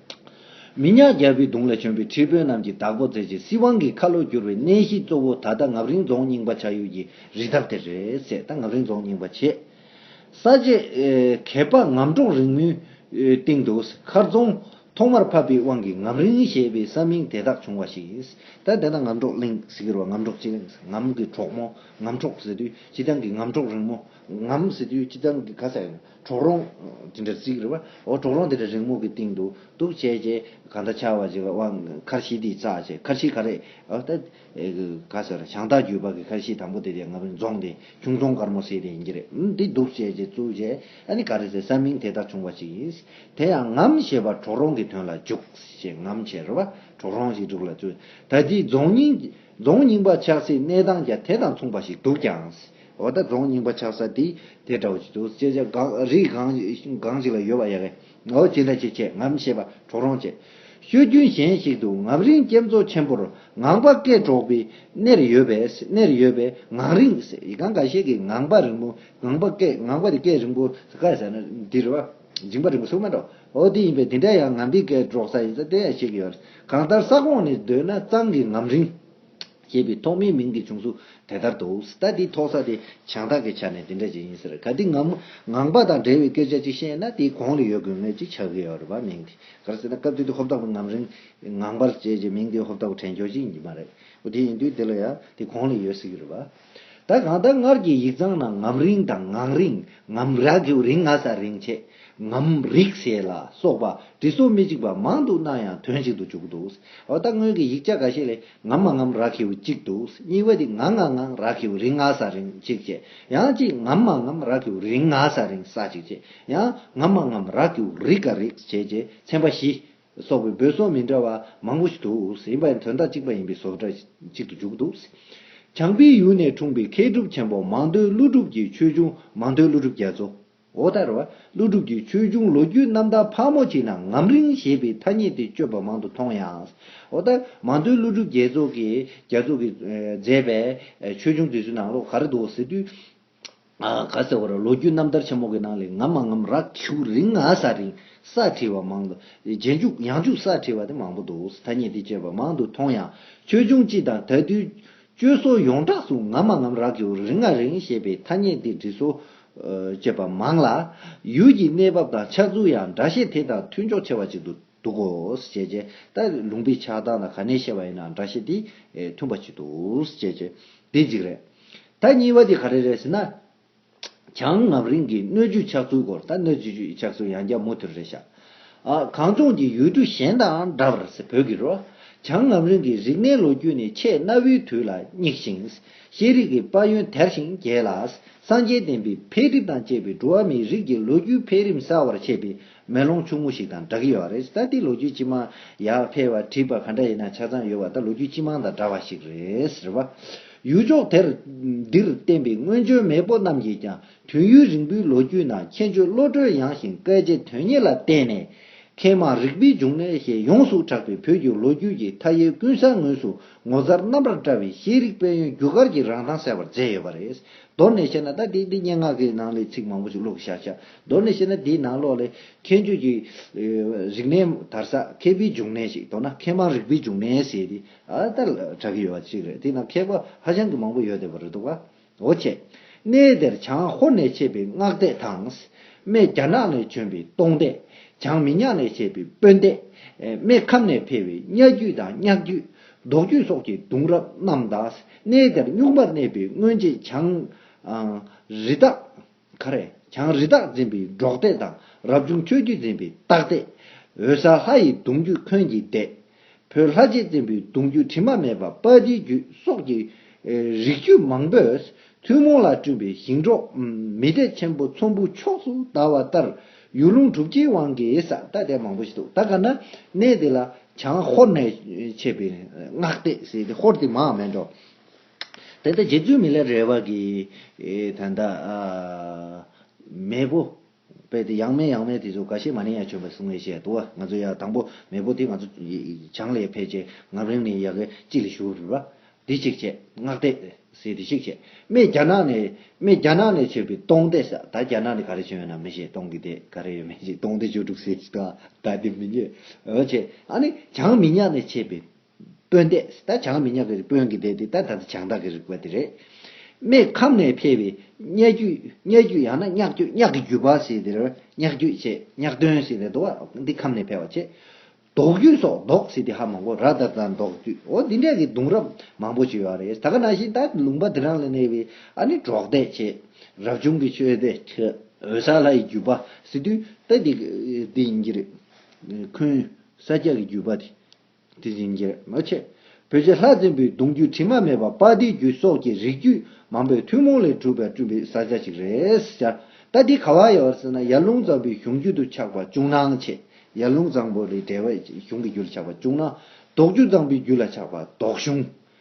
Speaker 1: མི་ཉག་རྒྱལ་པོའི་གདུང་ལས་བྱོན་པའི་ཁྲི་དཔོན་རྣམས་ཀྱིས་དྭགས་པོ་རྩེ་གཅིག་སྲིད་དབང་གི་ཁ་ལོ་བསྒྱུར་བའི་གནས་གཞི་གཙོ་བོ་ད་ལྟ་ངབ་རིང་རྫོང་རྙིང་པ་བྱ་ཡུལ་གྱི་རི་འདབས་དེ་རེད། ཟད་ད་ངབ་རིང་རྫོང་རྙིང་པ་བྱེད། ས་དཔྱད། གད་པ་ངམ་གྲོག་རིང་མོའི་སྟེང་དུ་མཁར་རྫོང་ཐོག་མར་ཕབ་པའི་དབང་གིས་ངབ་རིང་ཞེས་པའི་ས་མིང་དེ་དག་བྱུང་བ་ཞིག་ཡིན། ད་དེ་ན་ངམ་གྲོག་གླིང་ཟེར་གི་རོ་ངམ་གྲོག་སྤྱི་གླིང་ངམ་གི་གྲོག་མོ་ངམ་གྲོག་ཟེར་དུས་སྤྱི་གདང་གི་ངམ་གྲོག་རིང་མོ་ངམ་ཟེར་དུས་སྤྱི་གདང་གི་ག་ས་ཡིན། གྲོག་རོང། དེ་འདྲ་གཟིགས་རེད་བ། ཨོ་གྲོག་རོང་དེ་འདྲ་རིང་མོ་གི་སྟེང་དུ་འདུག་བྱས་རྗེས་ག་འདྲ་ཆགས་བ་ཅིག་ལ་དབང་མཁར་བཞི་འདི་བཙགས་བྱས་མཁར་བཞི་ག་རེད་ཨོ་ད། ག་ཟེར་ར་ཞང་སྟག་རྒྱུད་པ་གི་མཁར་བཞི་དང་པོ་དེ་དེ་ང་ཕོད་རྫོང་དེ་ཁྱུང་རྫོང་དཀར་མོ་སེ་དེ་ཡིན་གྱི་རེད་འམ་འདི་འདུག་བྱས་རྗེས་བཙུགས་རྗེས་ཨ་ནི་ག་རེ་ཟེར་ས་མིང་དེ་ལྟར་བྱུང་བ་ཅིག་ཡིན། དེ་ཡང་ངམ་ཞེས་པ་གྲོག་རོང་གི་དོན་ལ་འཇུག་ཞེས་ངམ་བྱས་རེད་བ་གྲོག་རོང་ཞིག་འདུག་ལ་བཙུགས་ད་ལྟའི་རྫོང་རྙིང། རྫོང་རྙིང་པ་ཆགས་སའི་གནས་སྟངས་ཀྱང་དེ་དང་མཚུངས་པ་ཞིག་འདུག་ཀྱང། འོ་ད་རྫོང་རྙིང་པ་ཆགས་ས་དེ་དེ་འདྲ་བོ་ཞིག་འདུག་སྐད་ཆ་སྒང་རིགས་སྒང་ཞིག་ལ་ཡོད་པ་ཡག་གི། འོ་ཅི་འདྲ་ཞིག་བྱས་ངམ་ཞེས་པ་གྲོག་རོང་བྱས། ཤོད་རྒྱུན་གཞན་ཞིག་ཏུ་ངམ་རིང་སྐྱེམས་མཚོ་ཆེན་པོར་ངང་པ་སྐད་སྒྲོག་པའི་གནས་ཡོད་པས་གནས་རེ་ཡོད་པས་ངང་རིང་ཟེར་ཡི་ག་འགའ་ཤས་ཀྱིས་ངང་པ་རིང་པོ་ངང་པ་སྐད་ངང་པ་དེ་སྐད་རིང་པོ་ཟེར་ག་ཟེར་ན་འདི་རེད་བ། སྦྱིན་པ་རིང་བསྲུང་མ་འགྲོ་འོ་དེ་ཡིན་པས་དེ་འདྲ་ཡང་ང་འདི་སྐད་སྒྲོག་ས་ཡིན་ས་དེ་ཡང་བཤད་ཀྱི་ཡོད་གང་ལྟར་ས་ཁོངས་ནས་བརྡོལ་ན་གཙང་གི་ངམ་རིང། ཞེས་པའི་ཐོག་མའི་མིང་གི་བྱུང་ཚུལ་དེ་ལྟར་འདུག་ད་དེའི་ཐོག་ས་དེ་བྱང་ཐང་གི་ཆ་ནས་དེ་འདྲ་ཅིག་ཡིན་ཟེར་ག་དེ་ངམ་ངང་པ་དང་འབྲེལ་བའི་སྐད་ཆ་ཅིག་བཤད་ན་དེའི་གོང་ལ་ཡོད་དགོས་ངེས་ཅིག་ཆགས་ཀྱི་ཡོད་རེད་བ་མིང་དེ་གར་ཟེར་ན་སྐབས་དེ་དུས་ཧོབ་ཐང་པའི་ངམ་རིང། ངང་པར་བཅས་ཀྱི་མིང་དེ་ཧོབ་ཐང་པའི་དྲན་འཁྱོལ་ཅིག་ཡིན་གྱི་མ་རེད་འོ་དེ་ཡིན་དུས་དེ་ལ་ཡང་དེའི་གོང་ལ་ཡོད་སྲིད་ཀྱི་རེད་བ། ད་གང་ལྟར་སྔར་གྱི་ཡིག་ཚང་ནང་ངམ་རིང་དང་ངང་རིང་ངམ་ར་གིའུ་རིང་ང་ས་རིང་ཆེ་ངམ་རིག་ཞེས་ལ་སོགས་པ་འབྲི་སྲོལ་མི་གཅིག་པ་མང་དུ་སྣང་ཡང་དོན་གཅིག་ཏུ་འཇུག་གི་འདུག་འོ་ད་སྔོན་གྱི་ཡིག་ཆ་འགའ་ཞིག་ལས་ངམ་མ་ངམ་ར་གིའུ་གཅིག་འདུག་གཉིས་པ་དེ་ང་ང་ངང་ར་གིའུ་རིང་ང་ས་རིང་གཅིག་ཅེས་ཡང་གཅིག་ངམ་མ་ངམ་ར་གིའུ་རིང་ང་ས་རིང་ས་གཅིག་ཅེས་ཡང་ངམ་མ་ངམ་ར་གིའུ་རིག་ག་རིག་ཞེས་ཅེས་ཚན་པ་བཞི་སོགས་པའི་འབོད་སོགས་མི་འདྲ་བ་མང་པོ་ཞིག་འདུག་ཡིན་པ་ཡང་དོན་དག་གཅིག་པ་ཡིན་པས་སོགས་སྒྲ་གཅིག་ཏུ་འཇུག་འདུག། བྱང་པའི་ཡུལ་ནས་འཁྲུངས་པའི་མཁས་གྲུབ་ཆེན་པོ་མང་ཐོས་ཀླུ་སྒྲུབ་ཀྱི་ཆོས་འབྱུང་མང་ཐོས་ཀླུ་སྒྲུབ་རྒྱ་མཚོ། ཨོ་ད་ར། ཀླུ་སྒྲུབ་ཀྱི་ཆོས་འབྱུང་ལོ་རྒྱུས་རྣམ་དག་ཕག་མོ་ཆེ་ན་ངམ་རིང་ཞེས་པའི་ཐ་སྙད་དེ་སྤྱོད་པ་མང་དུ་མཐོང་ཡང། ཨོ་ད་ར། མང་ཐོས་ཀླུ་སྒྲུབ་རྒྱལ་མཚོ་གིས་མཛད་པའི་ཆོས་འབྱུང་དུས་སུ་ནང་ལོགས་ག་རེ་འདུག་ཟེར་དུས། ག་ཟེར་བ་ར་ལོ་རྒྱུས་རྣམ་ཐར་ཆེན་མོ་གི་ནང་ལས་ངམ་མ་ངམ་རག་ཆུག་རིང་ང་ས་རིང་ས་བྲིས་བ་མང་འདུག་རྗེས་འཇུག་ཡང་འཇུག་ས་བྲིས་བ་དེ་མང་པོ་འདུག་ཐ་སྙད་འདི་སྤྱད་པ་མང་དུ་མཐོང་ཡང་ཆོས་འབྱུང་སྤྱི་དང་ད་དུས་སྤྱོད་སོགས་ཡོངས་གྲགས་སུ་ངམ་མ་ངམ་རག་ཆུག་རིང་ང་རིང་ཞེས་པའི་ཐ་སྙད་འདི་འབྲི་སྲོལ་སྤྱད་པ་མང་ལ། ཡུལ་གྱི་གནས་བབ་དང་ཆགས་ཚུལ་ཡང་འདྲ་ཤས་དེ་དང་མཐུན་ཕྱོགས་ཆེ་བ་ཅིག་འདུག། འདུག་གོ་ཞེས་བྱས། ད་ལུང་པའི་ཕྱག་དང་ན་ག་ནས་བཤད་པ་ཡིན་ན་འདྲ་ཞེས་དེས་མཐུན་པར་བྱེད་དོ་ཞེས་བྱས། དེ་འཇིགས་རེ། ད་གཉིས་པ་དེ་ག་རེ་རེད་ཟེར་ན། བྱང་ངམ་རིང་གི་སྣོད་བཅུད་ཆགས་ཚུལ་སྐོར་ད་སྣོད་བཅུད་ཆགས་ཚུལ་ཡང་བརྒྱ་མུ་མཐུད་རེད་ཤག། གངས་ལྗོངས་ཀྱི་ཡུལ་གྲུ་གཞན་དང་འདྲ་བར་ཟེར་བོད་ཀྱི་རོ། བྱང་ངམ་རིང་གི་རིག་གནས་ལོ་རྒྱུས་ནི་ཆེས་གནའ་བོའི་དུས་ལ་སྙེགས་ཤིང། ཤེས་རིག་གི་དཔལ་ཡོན་དལ་ཞིང་རྒྱས་ལ། སངས་རྒྱས་བསྟན་པའི་འཕེལ་འགྲིབ་དང་བཅས་པའི་འགྲོ་བ་མིའི་རིགས་ཀྱི་ལོ་རྒྱུས་འཕེལ་རིམ་གསལ་བར་བྱས་པའི་མེ་ལོང་ཆུང་ངུ་ཞིག་དང་འདྲ་གི་ཡོད་པ་རེད་ས་འདི་ལོ་རྒྱུས་སྤྱི་མང་ཡར་འཕེལ་བ་བྲིས་པ་ག་འདྲ་ཡིན་ན་ཆ་ཚང་ཡོད་པ་ད་ལོ་རྒྱུས་སྤྱི་མང་དང་འདྲ་བ་ཞིག་རེད་ཟེར་བ། ཡུལ་ཕྱོགས་དེར་འདིར་བསྟན་པའི་སྔོན་བྱོན་མེས་པོ་རྣམས་ཀྱིས་ཀྱང་དུས་ཡུན་རིང་པོའི་ལོ་རྒྱུས་ནང་མཁྱེན་དཔྱོད་བློ་གྲོས་ཡངས་ཤིང་སྐལ་ལྕེ་དོན་གཉེར་ལ་བརྟེན་ནས། མཁས་མང་རིག་པའི་འབྱུང་གནས་ཞེས་ཡོངས་སུ་གྲགས་པའི་བོད་ཀྱི་ལོ་རྒྱུས་ཀྱི་མཐའ་ཡས་ཀུན་བཟང་ངོས་སུ་ངོ་མཚར་རྣམ་པར་བཀྲ་བའི་ཤེས་རིག་དཔལ་ཡོན་རྒྱུ་སྐར་གྱི་རང་མདངས་གསལ་བར་མཛད་ཡོད་པ་རེད། མདོར་ནས་བཤད་ན་ད་ལྟའི་འདི་སྙན་ངག་གི་ནང་ལས་ཚིག་མང་པོ་ཞིག་ཀློག་གི་ཤག་ཤག་མདོར་ནས་བཤད་ན་དེའི་ནང་ལོགས་ལས་མཁས་འཇུག་གི་རིག་གནས་དར་ས་མཁས་པའི་འབྱུང་གནས་ཤིག་མདོར་ན་མཁས་མང་རིག་པའི་འབྱུང་གནས་ཟེར་ཏེ་ཨ་ལྟར་གྲགས་ཀྱི་ཡོད་པ་ཅིག་རེད་དེའི་ནང་མཁས་པ་ཧ་ཅང་གི་མང་པོ་ཡོད་བསྡད་པ་རེད་འདུག་བ། འོ་ཆེ། གནས་དེར་བྱང་ཧོར་ནས་མཆེད་པའི་སྔགས་སྡེ་དང། སྨད་རྒྱ་ནག་ནས་བྱོན་པའི་སྟོང་སྡེ། བྱང་མི་ཉག་ནས་མཆེད་པའི་དཔོན་སྡེ། སྨད་ཁམས་ནས་ཕེབས་པའི་གཉའ་རྒྱུད་དང་གཉགས་རྒྱུད། ཟློག་རྒྱུད་སོགས་ཀྱི་གདུང་རབས་རྣམས་དང། གནས་དེར་གཉུག་མར་གནས་པའི་སྔོན་རྗེས་བྱང། རི་དྭགས། ཁ་རས་གྱང་རི་དྭགས་འཛིན་པའི་འབྲོག་སྡེ་དང་རབ་བྱུང་ཆོས་བརྒྱུད་འཛིན་པའི་སྟག་སྡེ། འོད་ཟ་ལྷ་ཡི་གདུང་རྒྱུད་འཁོན་གྱི་སྡེ། བོད་ལྷ་རྗེ་འཛིན་པའི་གདུང་རྒྱུད་དྲི་མ་མེད་པ་དཔའ་སྡེའི་རྒྱུད་སོགས་ཀྱི་རིགས་རྒྱུད་མང་པོས་ཐུན་མོང་ལ་བསྐྲུན་པའི་ཞིང་འབྲོག་མི་སྡེ་ཆེན་པོ་ཚོམ་བུ་ཕྱོགས་སུ་དར་བ་ལྟར་ཡུལ་ལུང་གྲུབ་ཆའི་དབང་གིས་ས་སྟག་སྡེ་མང་པོ་ཞིག་འདུག་ད་ག་ན་གནས་དེ་ལ་བྱང་ཧོར་ནས་མཆེད་པའི་སྔགས་སྡེ་ཟེར་ཏེ་ཧོར་དེ་མའང་མེད་འགྲོ། དེ་ལྟར་རྗེ་བཙུན་མི་ལའི་རལ་བ་གྱིས། དོན་དག། མེས་པོ། པའི་དེ་ཡང་མེས་ཡང་མེས་དེ་ཚོ་ག་ཤེད་མ་ནིང་ཡ་བྱོན་པའི་གསུང་བས་བཤད་དོ། ང་ཚོ་ཡ་དང་པོ་མེས་པོ་དེ་ང་ཚོ། བྱང་ལས་ཕེབས་རྗེས་ངམ་རིང་ནས་ཡ་གི་ཅི་ལ་ཞུགས་རིགས་པ། དེ་གཅིག་བྱས། སྔགས་བཟླས། ཟས་དེ་གཅིག་བྱས། སྨད་རྒྱ་ནག་ནས། སྨད་རྒྱ་ནག་ནས་བྱོན་པའི་སྟོང་སྡེ་ས་ད་རྒྱ་ནག་ནས་ག་རེ་བྱོན་ཡོད་ན་མི་ཤེས་སྟོང་གི་སྡེ་ག་རེ་ཡོད་མི་ཤེས་སྟོང་སྡེ་བཅུ་དྲུག་སེ་ཟ་ད་དེ་མི་རྙེད། འོ་བྱས། ཨ་ནི་བྱང་མི་ཉག་ནས་ཆས་པའི། དཔོན་སྡེ། ད་བྱང་མི་ཉག་གི་དཔོན་གྱི་སྡེ་དེ་ད་ད་ལྟ་བྱང་བདག་གི་རིག་པ་དེ་རེད། སྨད་ཁམས་ནས་ཕེབས་པའི་གཉའ་རྒྱུད་གཉའ་རྒྱུད་ཡང་ན་གཉག་རྒྱུད་གཉག་གི་རྒྱུད་པ་ཞིག་དེར་གཉག་རྒྱུད་ཅེས་གཉག་སྟོན་ཞིག་ནས་འདུག་བ་འདི་ཁམས་ནས་ཕེབས་བ་ཆེ། ལྡོག་རྒྱུད་སོགས་ལྡོག་ཞིག་དེ་ཧ་མང་པོ་ར་དར་དང་ལྡོག་རྒྱུད་འོ་འདི་འདྲ་གི་གདུང་རབས་མང་པོ་བྱོས་བ་རེད་ད་ག་ན་བཞིན་ད་ལུང་པ་དེ་རང་ལ་གནས་པའི་ཨ་ནི་གྲོགས་སྡེ་ཆེ། རབ་བྱུང་གི་ཆོས་སྡེ་ཆེ། འོད་ས་ལྷ་ཡི་རྒྱུད་པ་ཟེར་དུས་ད་འདི་འདི་ཡིན་གྱི་རེད། ཁུན་ས་སྐྱ་གི་རྒྱུད་པ་དེ་དེ་བཞིན་རྒྱལ་མོ་ཆེ་བོད་ཀྱི་ལྷ་བཙན་པོའི་གདུང་རྒྱུད་དྲི་མ་མེད་པ་པཱ་ཏིའི་རྒྱུད་སོགས་ཀྱི་རིགས་རྒྱུད་མང་པོའི་ཐུན་མོང་ལས་གྲུབ་པའི་བསྐྲུན་པའི་བཟའ་བཅའ་ཞིག་རེད། ད་ལྟའི་ཁ་བ་ཡ་བར་སྲིད་ན་ཡར་ཀླུང་ཙང་པོའི་གཞུང་རྒྱུད་དུ་ཆགས་པ་ཅུང་སྣང་ཆེ། ཡར་ཀླུང་ཙང་པོ་རི་བྲལ་བས་གཞུང་གི་རྒྱུད་ལ་ཆགས་པ་ཅུང་སྣང། དོག་ཆུ་ཙང་པོའི་རྒྱུད་ལ་ཆགས་པ་དོག་གཞུང།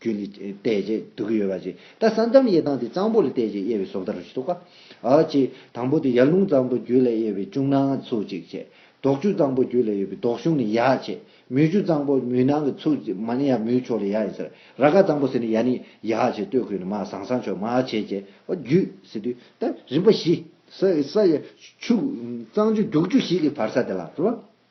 Speaker 1: རྒྱུ་ནི། བལྟས་རྗེས་སྡུག་གི་ཡོད་པ་ཅི། ད་ས་འཇམ་དབྱེ་སྟངས་དེ་གཙང་པོ་ལ་བལྟས་རྗེས་དབྱེ་བའི་སྲོག་ལྟ་རུ་ཞིག་འདུག་ག། ཨོ་ཅི། དང་པོ་དེ་ཡར་ཀླུང་གཙང་པོ་རྒྱུད་ལ་དབྱེ་བའི་ཅུང་ནང་གི་ཚུགས་གཅིག་བྱེད། ལྡོག་ཆུ་གཙང་པོ་རྒྱུད་ལ་དབྱེ་བའི་ལྡོག་གཞུང་ནི་ཡར་བྱེད། མུའུ་ཆུ་གཙང་པོ་མུའུ་ནང་གི་ཚུགས་གཅིག་མ་ནི་ཡར་མུའུ་ཕྱོགས་ལ་ཡར་ཡིན་ཟེར། ར་དཀར་གཙང་པོ་ཟེར་ནི་ཡར་ནི་ཡར་བྱེད་སྟོད་ཁུལ་ནི་མ་ཟང་ཟང་ཕྱོགས་མར་བྱེད་ཅེས་ཨོ་རྒྱུད་ཟེར་དུས་ད་རིམ་པ་བཞི། ས། ཆུ། གཙང་ཆུ་རྒྱུག་ཆུ་ཞིག་གི་བར་ས་དེ་ལ་ཟེར་བ།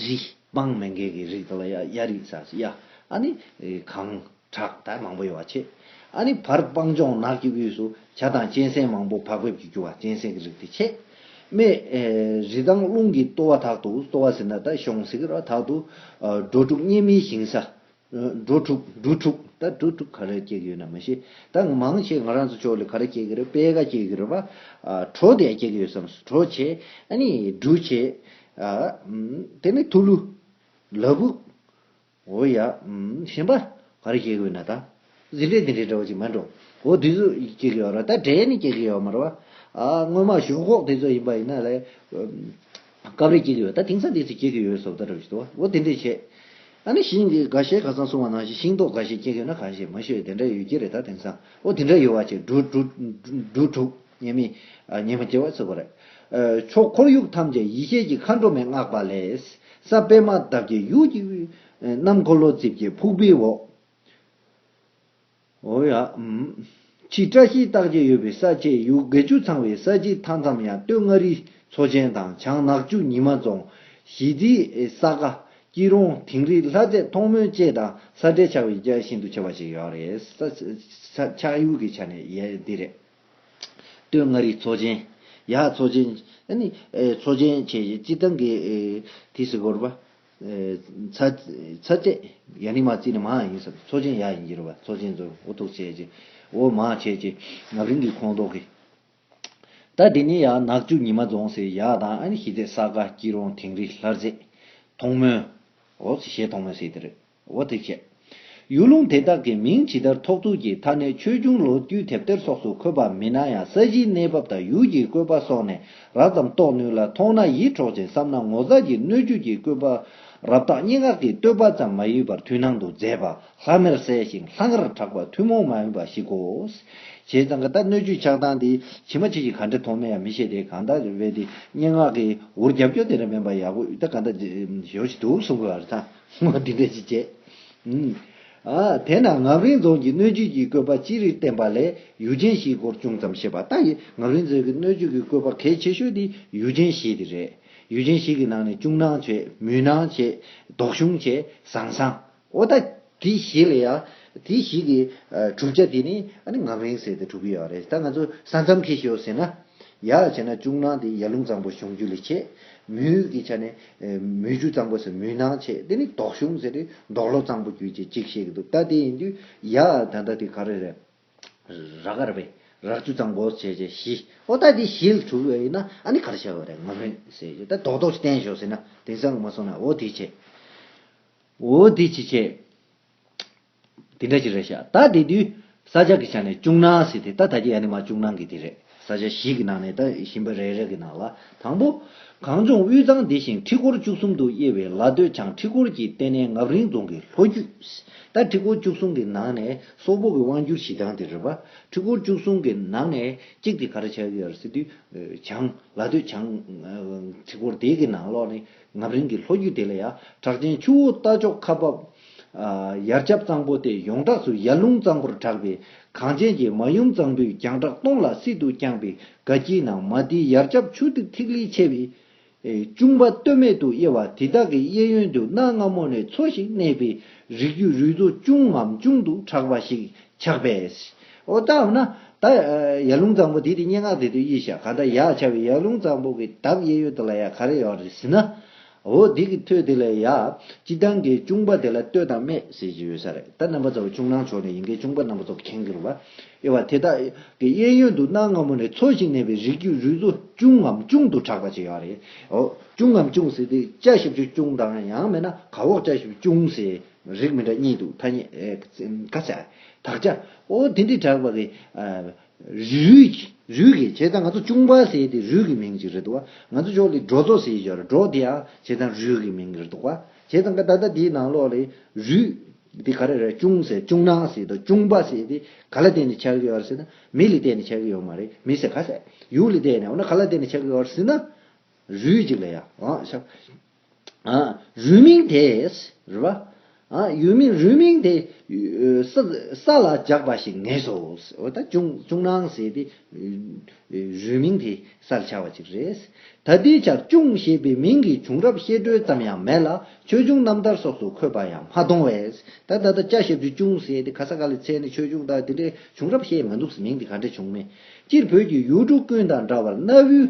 Speaker 1: རི། སྤང་མེ་འགས་ཀྱི་རིགས་དག་ལ་གཡའ། གཡའ་རིགས་ས་གཡའ། ཨ་ནི། གངས། བྲག་དག་མང་པོ་ཡོད་པར་བྱེད། ཨ་ནི། བར་སྤང་ལྗོངས་ནགས་ཀྱི་དབུས་སུ། བྱ་དང་གཅན་གཟན་མང་པོ་བག་ཕེབས་ཀྱིས་རྒྱུ་བ་གཅན་གཟན་གྱི་རིགས་དེ་བྱེད། རྨེ། རི་དང་ཀླུང་གི་ལྟོ་བ་དག་ཏུ། ལྟོ་བ་ཟེར་ན་དག་གཤོངས་ཟེར། དག་ཏུ། འགྲོ་དྲུག་གཉན་མིའི་ཞིང་ས། འགྲོ་དྲུག་འབྲུ་དྲུག་ད་འབྲུ་དྲུག་ག་རེ་སྐྱེ་གི་ཡོད་ན་མི་ཤེས་ད་མང་ཆེ་ང་རང་ཚོ་ཕྱོགས་ལ་ག་རེ་སྐྱེ་གི་རེད་དཔལ་ཁ་སྐྱེ་གི་རེད་པ། གྲོ་དེ་ཡང་སྐྱེ་གི་ཡོད་བསམ་སོང་གྲོ་བྱེད་ཨ་ནི་འབྲུ་བྱེད། དེ་ནས་ཐུག་ལུ། ལ་བུ། འོ་ཡ། ཞིམ་པ་ག་རེ་སྐྱེ་གི་ཡོད་ན་ད། གཟི་ལས་འདི་འདྲའི་འདྲ་བ་ཅིག་མ་འགྲོ། འོ་དེ་ཚོ་སྐྱེ་གི་ཡོད་རེད་ད་དྲན་ནས་སྐྱེ་གི་ཡོད་མ་རེད། སྔོན་མ་ཞོག་ཁོག་དེ་ཚོ་ཡིན་པ་ཡིན་ན་ལས། སྐབས་རེ་སྐྱེ་གི་ཡོད་ད་དེང་སང་དེ་ཚོ་སྐྱེ་གི་ཡོད་སོགས་ད་རེ་བཞིན་དུ་འོ་དེ་འདྲས་བྱས། ཨ་ནི་ཤིང་གི་ག་ཤེད་ག་ཚང་སོང་བ་ནང་བཞིན་ཤིང་ཏོག་ག་ཤེད་སྐྱེ་གི་ཡོད་ན་གང་ཤེད་མ་ཤེད་དེ་འདྲས་ཡོད་ཀྱི་རེད་ད་དེང་སང་འོ་དེ་འདྲས་ཡོད་བ་ཅིག་འབྲུ། འབྲུ་དྲུག་ཉེ་མི། ཉེ་མ་སྐྱེ་བ་ཚུད་པ་རེད། ཕྱོགས་འཁོར་ཡུག་ཐམས་ཅད་ཡེ་ཤེས་ཀྱི་མཁའ་འགྲོ་མའི་བསྔགས་པ་ལས། ས་པད་མ་འདབ་ཀྱི་ཡུག། གནམ་འཁོར་ལོ་རྩིབས་ཀྱི་ཕུག་པའི་འོག། ཕྱིའི་བཀྲ་ཤིས་རྟགས་བརྒྱད་ཡོད་པའི་ས་བཅད་ཡུག་དགེ་བཅུ་ཚང་བའི་ས་བྱི་མཐའ་མཚམས་ཡང་སྟོད་མངའ་རིས་མཚོ་ཆེན་དང་བྱང་ནག་ཆུ་ཉི་མ་རྫོང། ཞི་བདེའི་ས་ག། སྐྱིད་རོང་དིང་རི་ལྷ་རྩེ་མཐོང་སྨོན་བཅས་དང་ས་འབྲེལ་ཆགས་པའི་རྒྱ་ཤིན་ཏུ་ཆེ་བ་ཞིག་ཡོད་རེད། ཆགས་ཡུལ་གྱི་ཆ་ནས་ཡས་འདི་རེད། སྟོད་མངའ་རིས་མཚོ་ཆེན། ཡག་མཚོ་ཆེན། མཚོ་ཆེན་བཅས་ཀྱི་སྤྱི་བཏང་གི་དུས་སུ་བོར་བ། ཚ་བཅད་ཡ་ནི་མ་བརྩིས་ནི་མ་ཡང་ཡིན་ཟེར་བ་ཚོགས་ཆེན་ཡ་ཡིན་གྱིར་བ་ཚོགས་ཆེན་ཚོར་འུ་ཐུག་བྱས་ཀྱི་འོ་མ་བྱས་ཀྱི་ནག་རིང་གི་ཁོང་ཏོག་གིས། ད་དེ་ནི་ཡ་ནག་ཆུ་ཉི་མ་རྫོང་སའི་ཡ་དང་ཨ་ནི་ཤི་ཚད་ས་ག་སྐྱིད་རོང་དིང་རི་ལྷར་རྩེ། ཐོང་མོན། འོ་ཞེས་ཐོང་མོན་ཟེར་གྱི་རེད་འོ་ཐུག་བྱས། ཡུལ་ལུང་དེ་དག་གི་མིང་ཇི་ལྟར་ཐོགས་ཚུལ་གྱི་མཐའ་གནད་ཆོས་འབྱུང་ལོ་རྒྱུས་དེབ་ཐེར་སོགས་སུ་འཁོད་པ་མིན་ན་ཡང་ས་གཞིའི་གནས་བབ་དང་ཡུལ་གྱི་བཀོད་པ་སོགས་ནས་རགས་ཙམ་རྟོགས་ནུས་ལ་མཐོང་ན་ཡིད་འཕྲོག་ཅིང་བསམ་ན་ངོ་མཚར་གྱི་སྣོད་བཅུད་ཀྱི་བཀོད་པ་རབ་དག་སྙན་ངག་གི་བསྟོད་པ་ཙམ་མ་ཡིན་པར་དུས་སྣང་དུ་མཛེས་པ་ལྷམ་མེར་གསལ་ཞིང་ལྷང་ངེར་གྲགས་པ་ཐུན་མོང་མ་ཡིན་པ་ཞིག་གོ། བྱས་ཙང་གི་ད་སྣོད་བཅུད་ཆགས་སྟངས་དེ་ཇི་མ་ཇི་བཞིན་ག་འདྲ་མཐོང་མིན་ཡང་མི་ཤེས་ཏེ་གང་ལྟར་རེད་དེ་སྙན་ངག་གི་འུར་རྒྱབ་སྐྱོར་དེ་འདྲ་མིན་པར་ཡག་པོ་ཡུལ་ཐ་ག་འདྲ་ཞིག་འདུག་གསུང་དགོས་པ་རེད་ད། སྔགས་འདི་འགྲེལ་གྱིས་བཅད། དེས་ན་ངམ་རིང་རྫོང་གི་སྣོད་བཅུད་ཀྱི་བཀོད་པ་ཅི་རིགས་བསྟན་པ་ལས་ཡུལ་ཅན་བཞིའི་སྐོར་ཅུང་ཙམ་བཤད་པ་ལྟ་ཡི་ངམ་རིང་རྫོང་གི་སྣོད་བཅུད་ཀྱི་བཀོད་པ་གལ་ཆེ་ཤོས་དེ་ཡུལ་ཅན་བཞི་དེ་རེད། ཡུལ་ཅན་བཞི་གི་ནང་ནས་ཅུང་སྣང་ཆེ་མུན་སྣང་ཆེ་དོག་ཞུམ་ཆེ་ཟང་ཟང། ཨོ་ད། དེ་བཞི་ལ་ཡང་དེ་བཞི་གི་གྲུབ་ཆ་དེ་ནི་ཨ་ནི་ངམ་རིང་ཟེར་ཏེ་གྲུབ་ཀྱི་ཡོད་རེད་ད་ང་ཚོ་ས་མཚམས་མཁས་ཤོས་ཟེར་ན། ཡག་བྱས་ན་ཅུང་སྣང་དེ་ཡར་ཀླུང་གཙང་པོ་གཞུང་རྒྱུད་ལས་ཆེ། མུན་གྱི་ཆ་ནས། མུས་རྒྱུ་གཙང་པོ་ཟེར་མུས་ནག་ཆེ་དེ་ནི་དོག་གཞུང་ཟེར་འདོག་ལོ་གཙང་པོ་རྒྱུད་ཅེས་གཅིག་བཤད་ཀྱི་འདུག་ད་དེ་ཡིན་དུས་ཡ་ད་ལྟ་དེ་ག་རེ་རེད། རག་ག་རེ་བེད་རག་རྒྱུ་གཙང་པོ་བྱས་བྱས་བཞི་ཨོ་ད་དེ་བཞི་ལ་གྲུབ་བས་ཡིན་ན་ཨ་ནི་ག་རེ་བྱས་པ་རེད་ང་མི་ཟེར་གྱི་ད་དོག་དོག་ཅིག་བསྟན་ཞོག་ཟེར་ན་དེང་སང་གི་མ་སོང་ན་ཨོ་དེ་བྱས་ཨོ་དེ་ཅིག་བྱས། དེ་འདྲ་ཅིག་རེད་ཤག་ད་དེ་དུས་ས་ཆ་གི་ཆ་ནས་ཅུང་ནང་ཟིག་དེ་ད་ད་ཀྱི་ཡ་ནི་མ་ཅུང་ནང་གི་དེ་རེད་ས་ཆ་བཞི་གི་ནང་ནས་ད་ཞིམ་པ་རེ་རེ་གི་ནང་ལ་དང་པོ། གངས་ལྗོངས་དབུས་གཙང་འདི་ཞིང་ཁྲི་སྐོར་བཅུ་གསུམ་དུ་དབྱེ་བའི་ལ་སྟོད་བྱང་ཁྲི་སྐོར་གྱི་ལྟེ་གནས་ངབ་རིང་རྫོང་གི་ལྷོ་རྒྱུད། ད་ཁྲི་སྐོར་བཅུ་གསུམ་གི་ནང་ནས་སོག་པོ་གི་དབང་བསྒྱུར་གཞི་གྲངས་དེ་རེད་པ་ཁྲི་སྐོར་བཅུ་གསུམ་གི་ནང་ནས་གཅིག་དེ་ག་རེ་བྱ་གི་ཡོད་རེད་ཟེར་དུས། བྱང། ལ་སྟོད་བྱང། ཁྲི་སྐོར་དེ་གི་ནང་ལོགས་ནི། ངམ་རིང་གི་ལྷོ་རྒྱུད་དེ་ལ་ཡང་བྲག་ཆེན་ཆུ་བོ་རྟ་མཆོག་ཁ་འབབ། ཡར་ཆབ་གཙང་པོ་སྟེ་ཡོངས་གྲགས་སུ་ཡར་ལུང་གཙང་པོར་གྲགས་པས་གངས་ཅན་གྱི་མ་ཡུམ་གཙང་པོའི་རྒྱང་གྲགས་སྟོང་ལ་སྲིད་དུ་བསྐྱངས་པའི་དགའ་སྐྱིད་ནང་མ་དེའི་ཡར་ཆབ་ཆུ་གཏེར་ཐིག་ལེའི་ཆས་པས། ཅུང་བ་སྟོད་སྨད་དུ་དབྱེ་བ་དེ་དག་གི་གཡས་གཡོན་དུ་གནའ་སྔ་མོ་ནས་འཚོ་ཞིང་གནས་པའི་རིགས་རྒྱུད་རུས་གཙོ་ཅུང་ངམ་ཅུང་དུ་གྲགས་པ་ཞིག་ཆགས་པས། འོ་ད་འོ་ན། ད། ཡར་ཀླུང་གཙང་པོ་དེ་དེ་སྙན་ངག་དེ་དུ་དབྱེ་ཤག་ག་ད་ཡག་ཆ་བའི་ཡར་ཀླུང་གཙང་པོ་གི་དག་དབྱེ་ཡོད་དོ་ལ་ཡག་ག་རེ་ཡོག་རེད་ཟེར་ན། འོ་དེ་གི་ཐོས་དེ་ལ་ཡག། སྤྱི་བཏང་གི་ཅུང་པ་དེ་ལ་ལྟོས་དང་སྨད་ཟེར་གྱི་ཡོད་ས་རེད་ད་རྣམ་པ་ཚོ་ཅུང་ནང་ཆོག་ནས་ཡིན་གི་ཅུང་པ་རྣམ་པ་ཚོ་མཁྱེན་གི་རུ་བ་དབྱེ་བ་དེ་དག་གི་དབྱེ་ཡོད་འདུག་གནའ་སྔ་མོ་ནས་འཚོ་ཞིང་གནས་པའི་རིགས་རྒྱུད་རུས་ཚོ་ཅུང་ངམ་ཅུང་དུ་གྲགས་པ་ཅིག་ཡག་རེད་འོ་ཅུང་ངམ་ཅུང་ཟེར་དེ་བཅའ་ཞིབ་ཅུང་དང་ཡང་མེད་ན་ག་འོག་བཅའ་ཞིབ་ཅུང་ཟེར། རིགས་མི་འདྲ་གཉིས་འདུག་ཐ་སྙད། ཀ་ཆ། དག་ཆ། ཨོ་དེ་འདྲའི་གྲགས་པ་གི། རུས། རུས་ཀྱི་བྱས་ཙང་ང་ཚོ་ཅུང་པ་ཟེར་དེ་རུས་ཀྱི་མིང་ཅིག་རེད་འདུག་བ། ང་ཚོ་ཕྱོགས་ལས་འབྲོག་ཚོ་ཟེར་ཞོར་འབྲོག་དེ་ཡང་བྱས་ཙང་རུས་ཀྱི་མིང་རེད་འདུག་བ། བྱས་ཙང་ཀ་ད་ལྟ་དེའི་ནང་ལོགས་ལས། རུས། དེ་ག་རེ་རེད་ཅུང་ཟེར་ཅུང་ནང་ཟེར་དང་ཅུང་པ་ཟེར་དེ་ག་ལ་བརྟེན་ནས་ཆགས་ཀྱི་ཡོད་རེད་ཟེར་ན། མི་ལ་བརྟེན་ནས་ཆགས་ཀྱི་ཡོད་མ་རེད་མི་ཟེར་ག་ཟེར། ཡུལ་ལ་བརྟེན་ནས་འོ་ན་ག་ལ་བརྟེན་ནས་ཆགས་ཀྱི་ཡོད་རེད་ཟེར་ན། རུས་ཅིག་ལ་ཡང། རུས་མིང་དེས་རེད་པ། ཡུལ་མིང་རུས་མིང་དེ་ས་ལ་འཇགས་པ་ཞིག་ངེས་སོ། འོ་ད་ཅུང་ནང་ཟེར་ཏེ། རུས་མིང་དེ་ས་ལ་འཆར་བ་ཅིག་རེད། ད་ལྟའི་ཆར་ཅུང་ཞེས་པའི་མིང་གི་བྱུང་རབས་བཤད་སྒྲོས་ཙམ་ཡང་མེད་ལ་ཆོས་འབྱུང་རྣམ་ཐར་སོགས་སུ་འཁོད་པ་ཡང་མ་མཐོང་བས། ད་ལྟ་ད་ཅག་ཞབས་ཀྱིས་ཅུང་ཟད་དེ་ག་ས་ག་ལ་འཚལ་ནས་ཆོས་འབྱུང་དག་དེ་འདྲའི་བྱུང་རབས་བཤད་མ་འདུག་ཟེར་མིང་དེ་ག་འདྲ་བྱུང་མེད་ཅིར་བོད་ཀྱི་ཡུལ་གྲུ་ཀུན་དང་འདྲ་བར་གནའ་བོའི་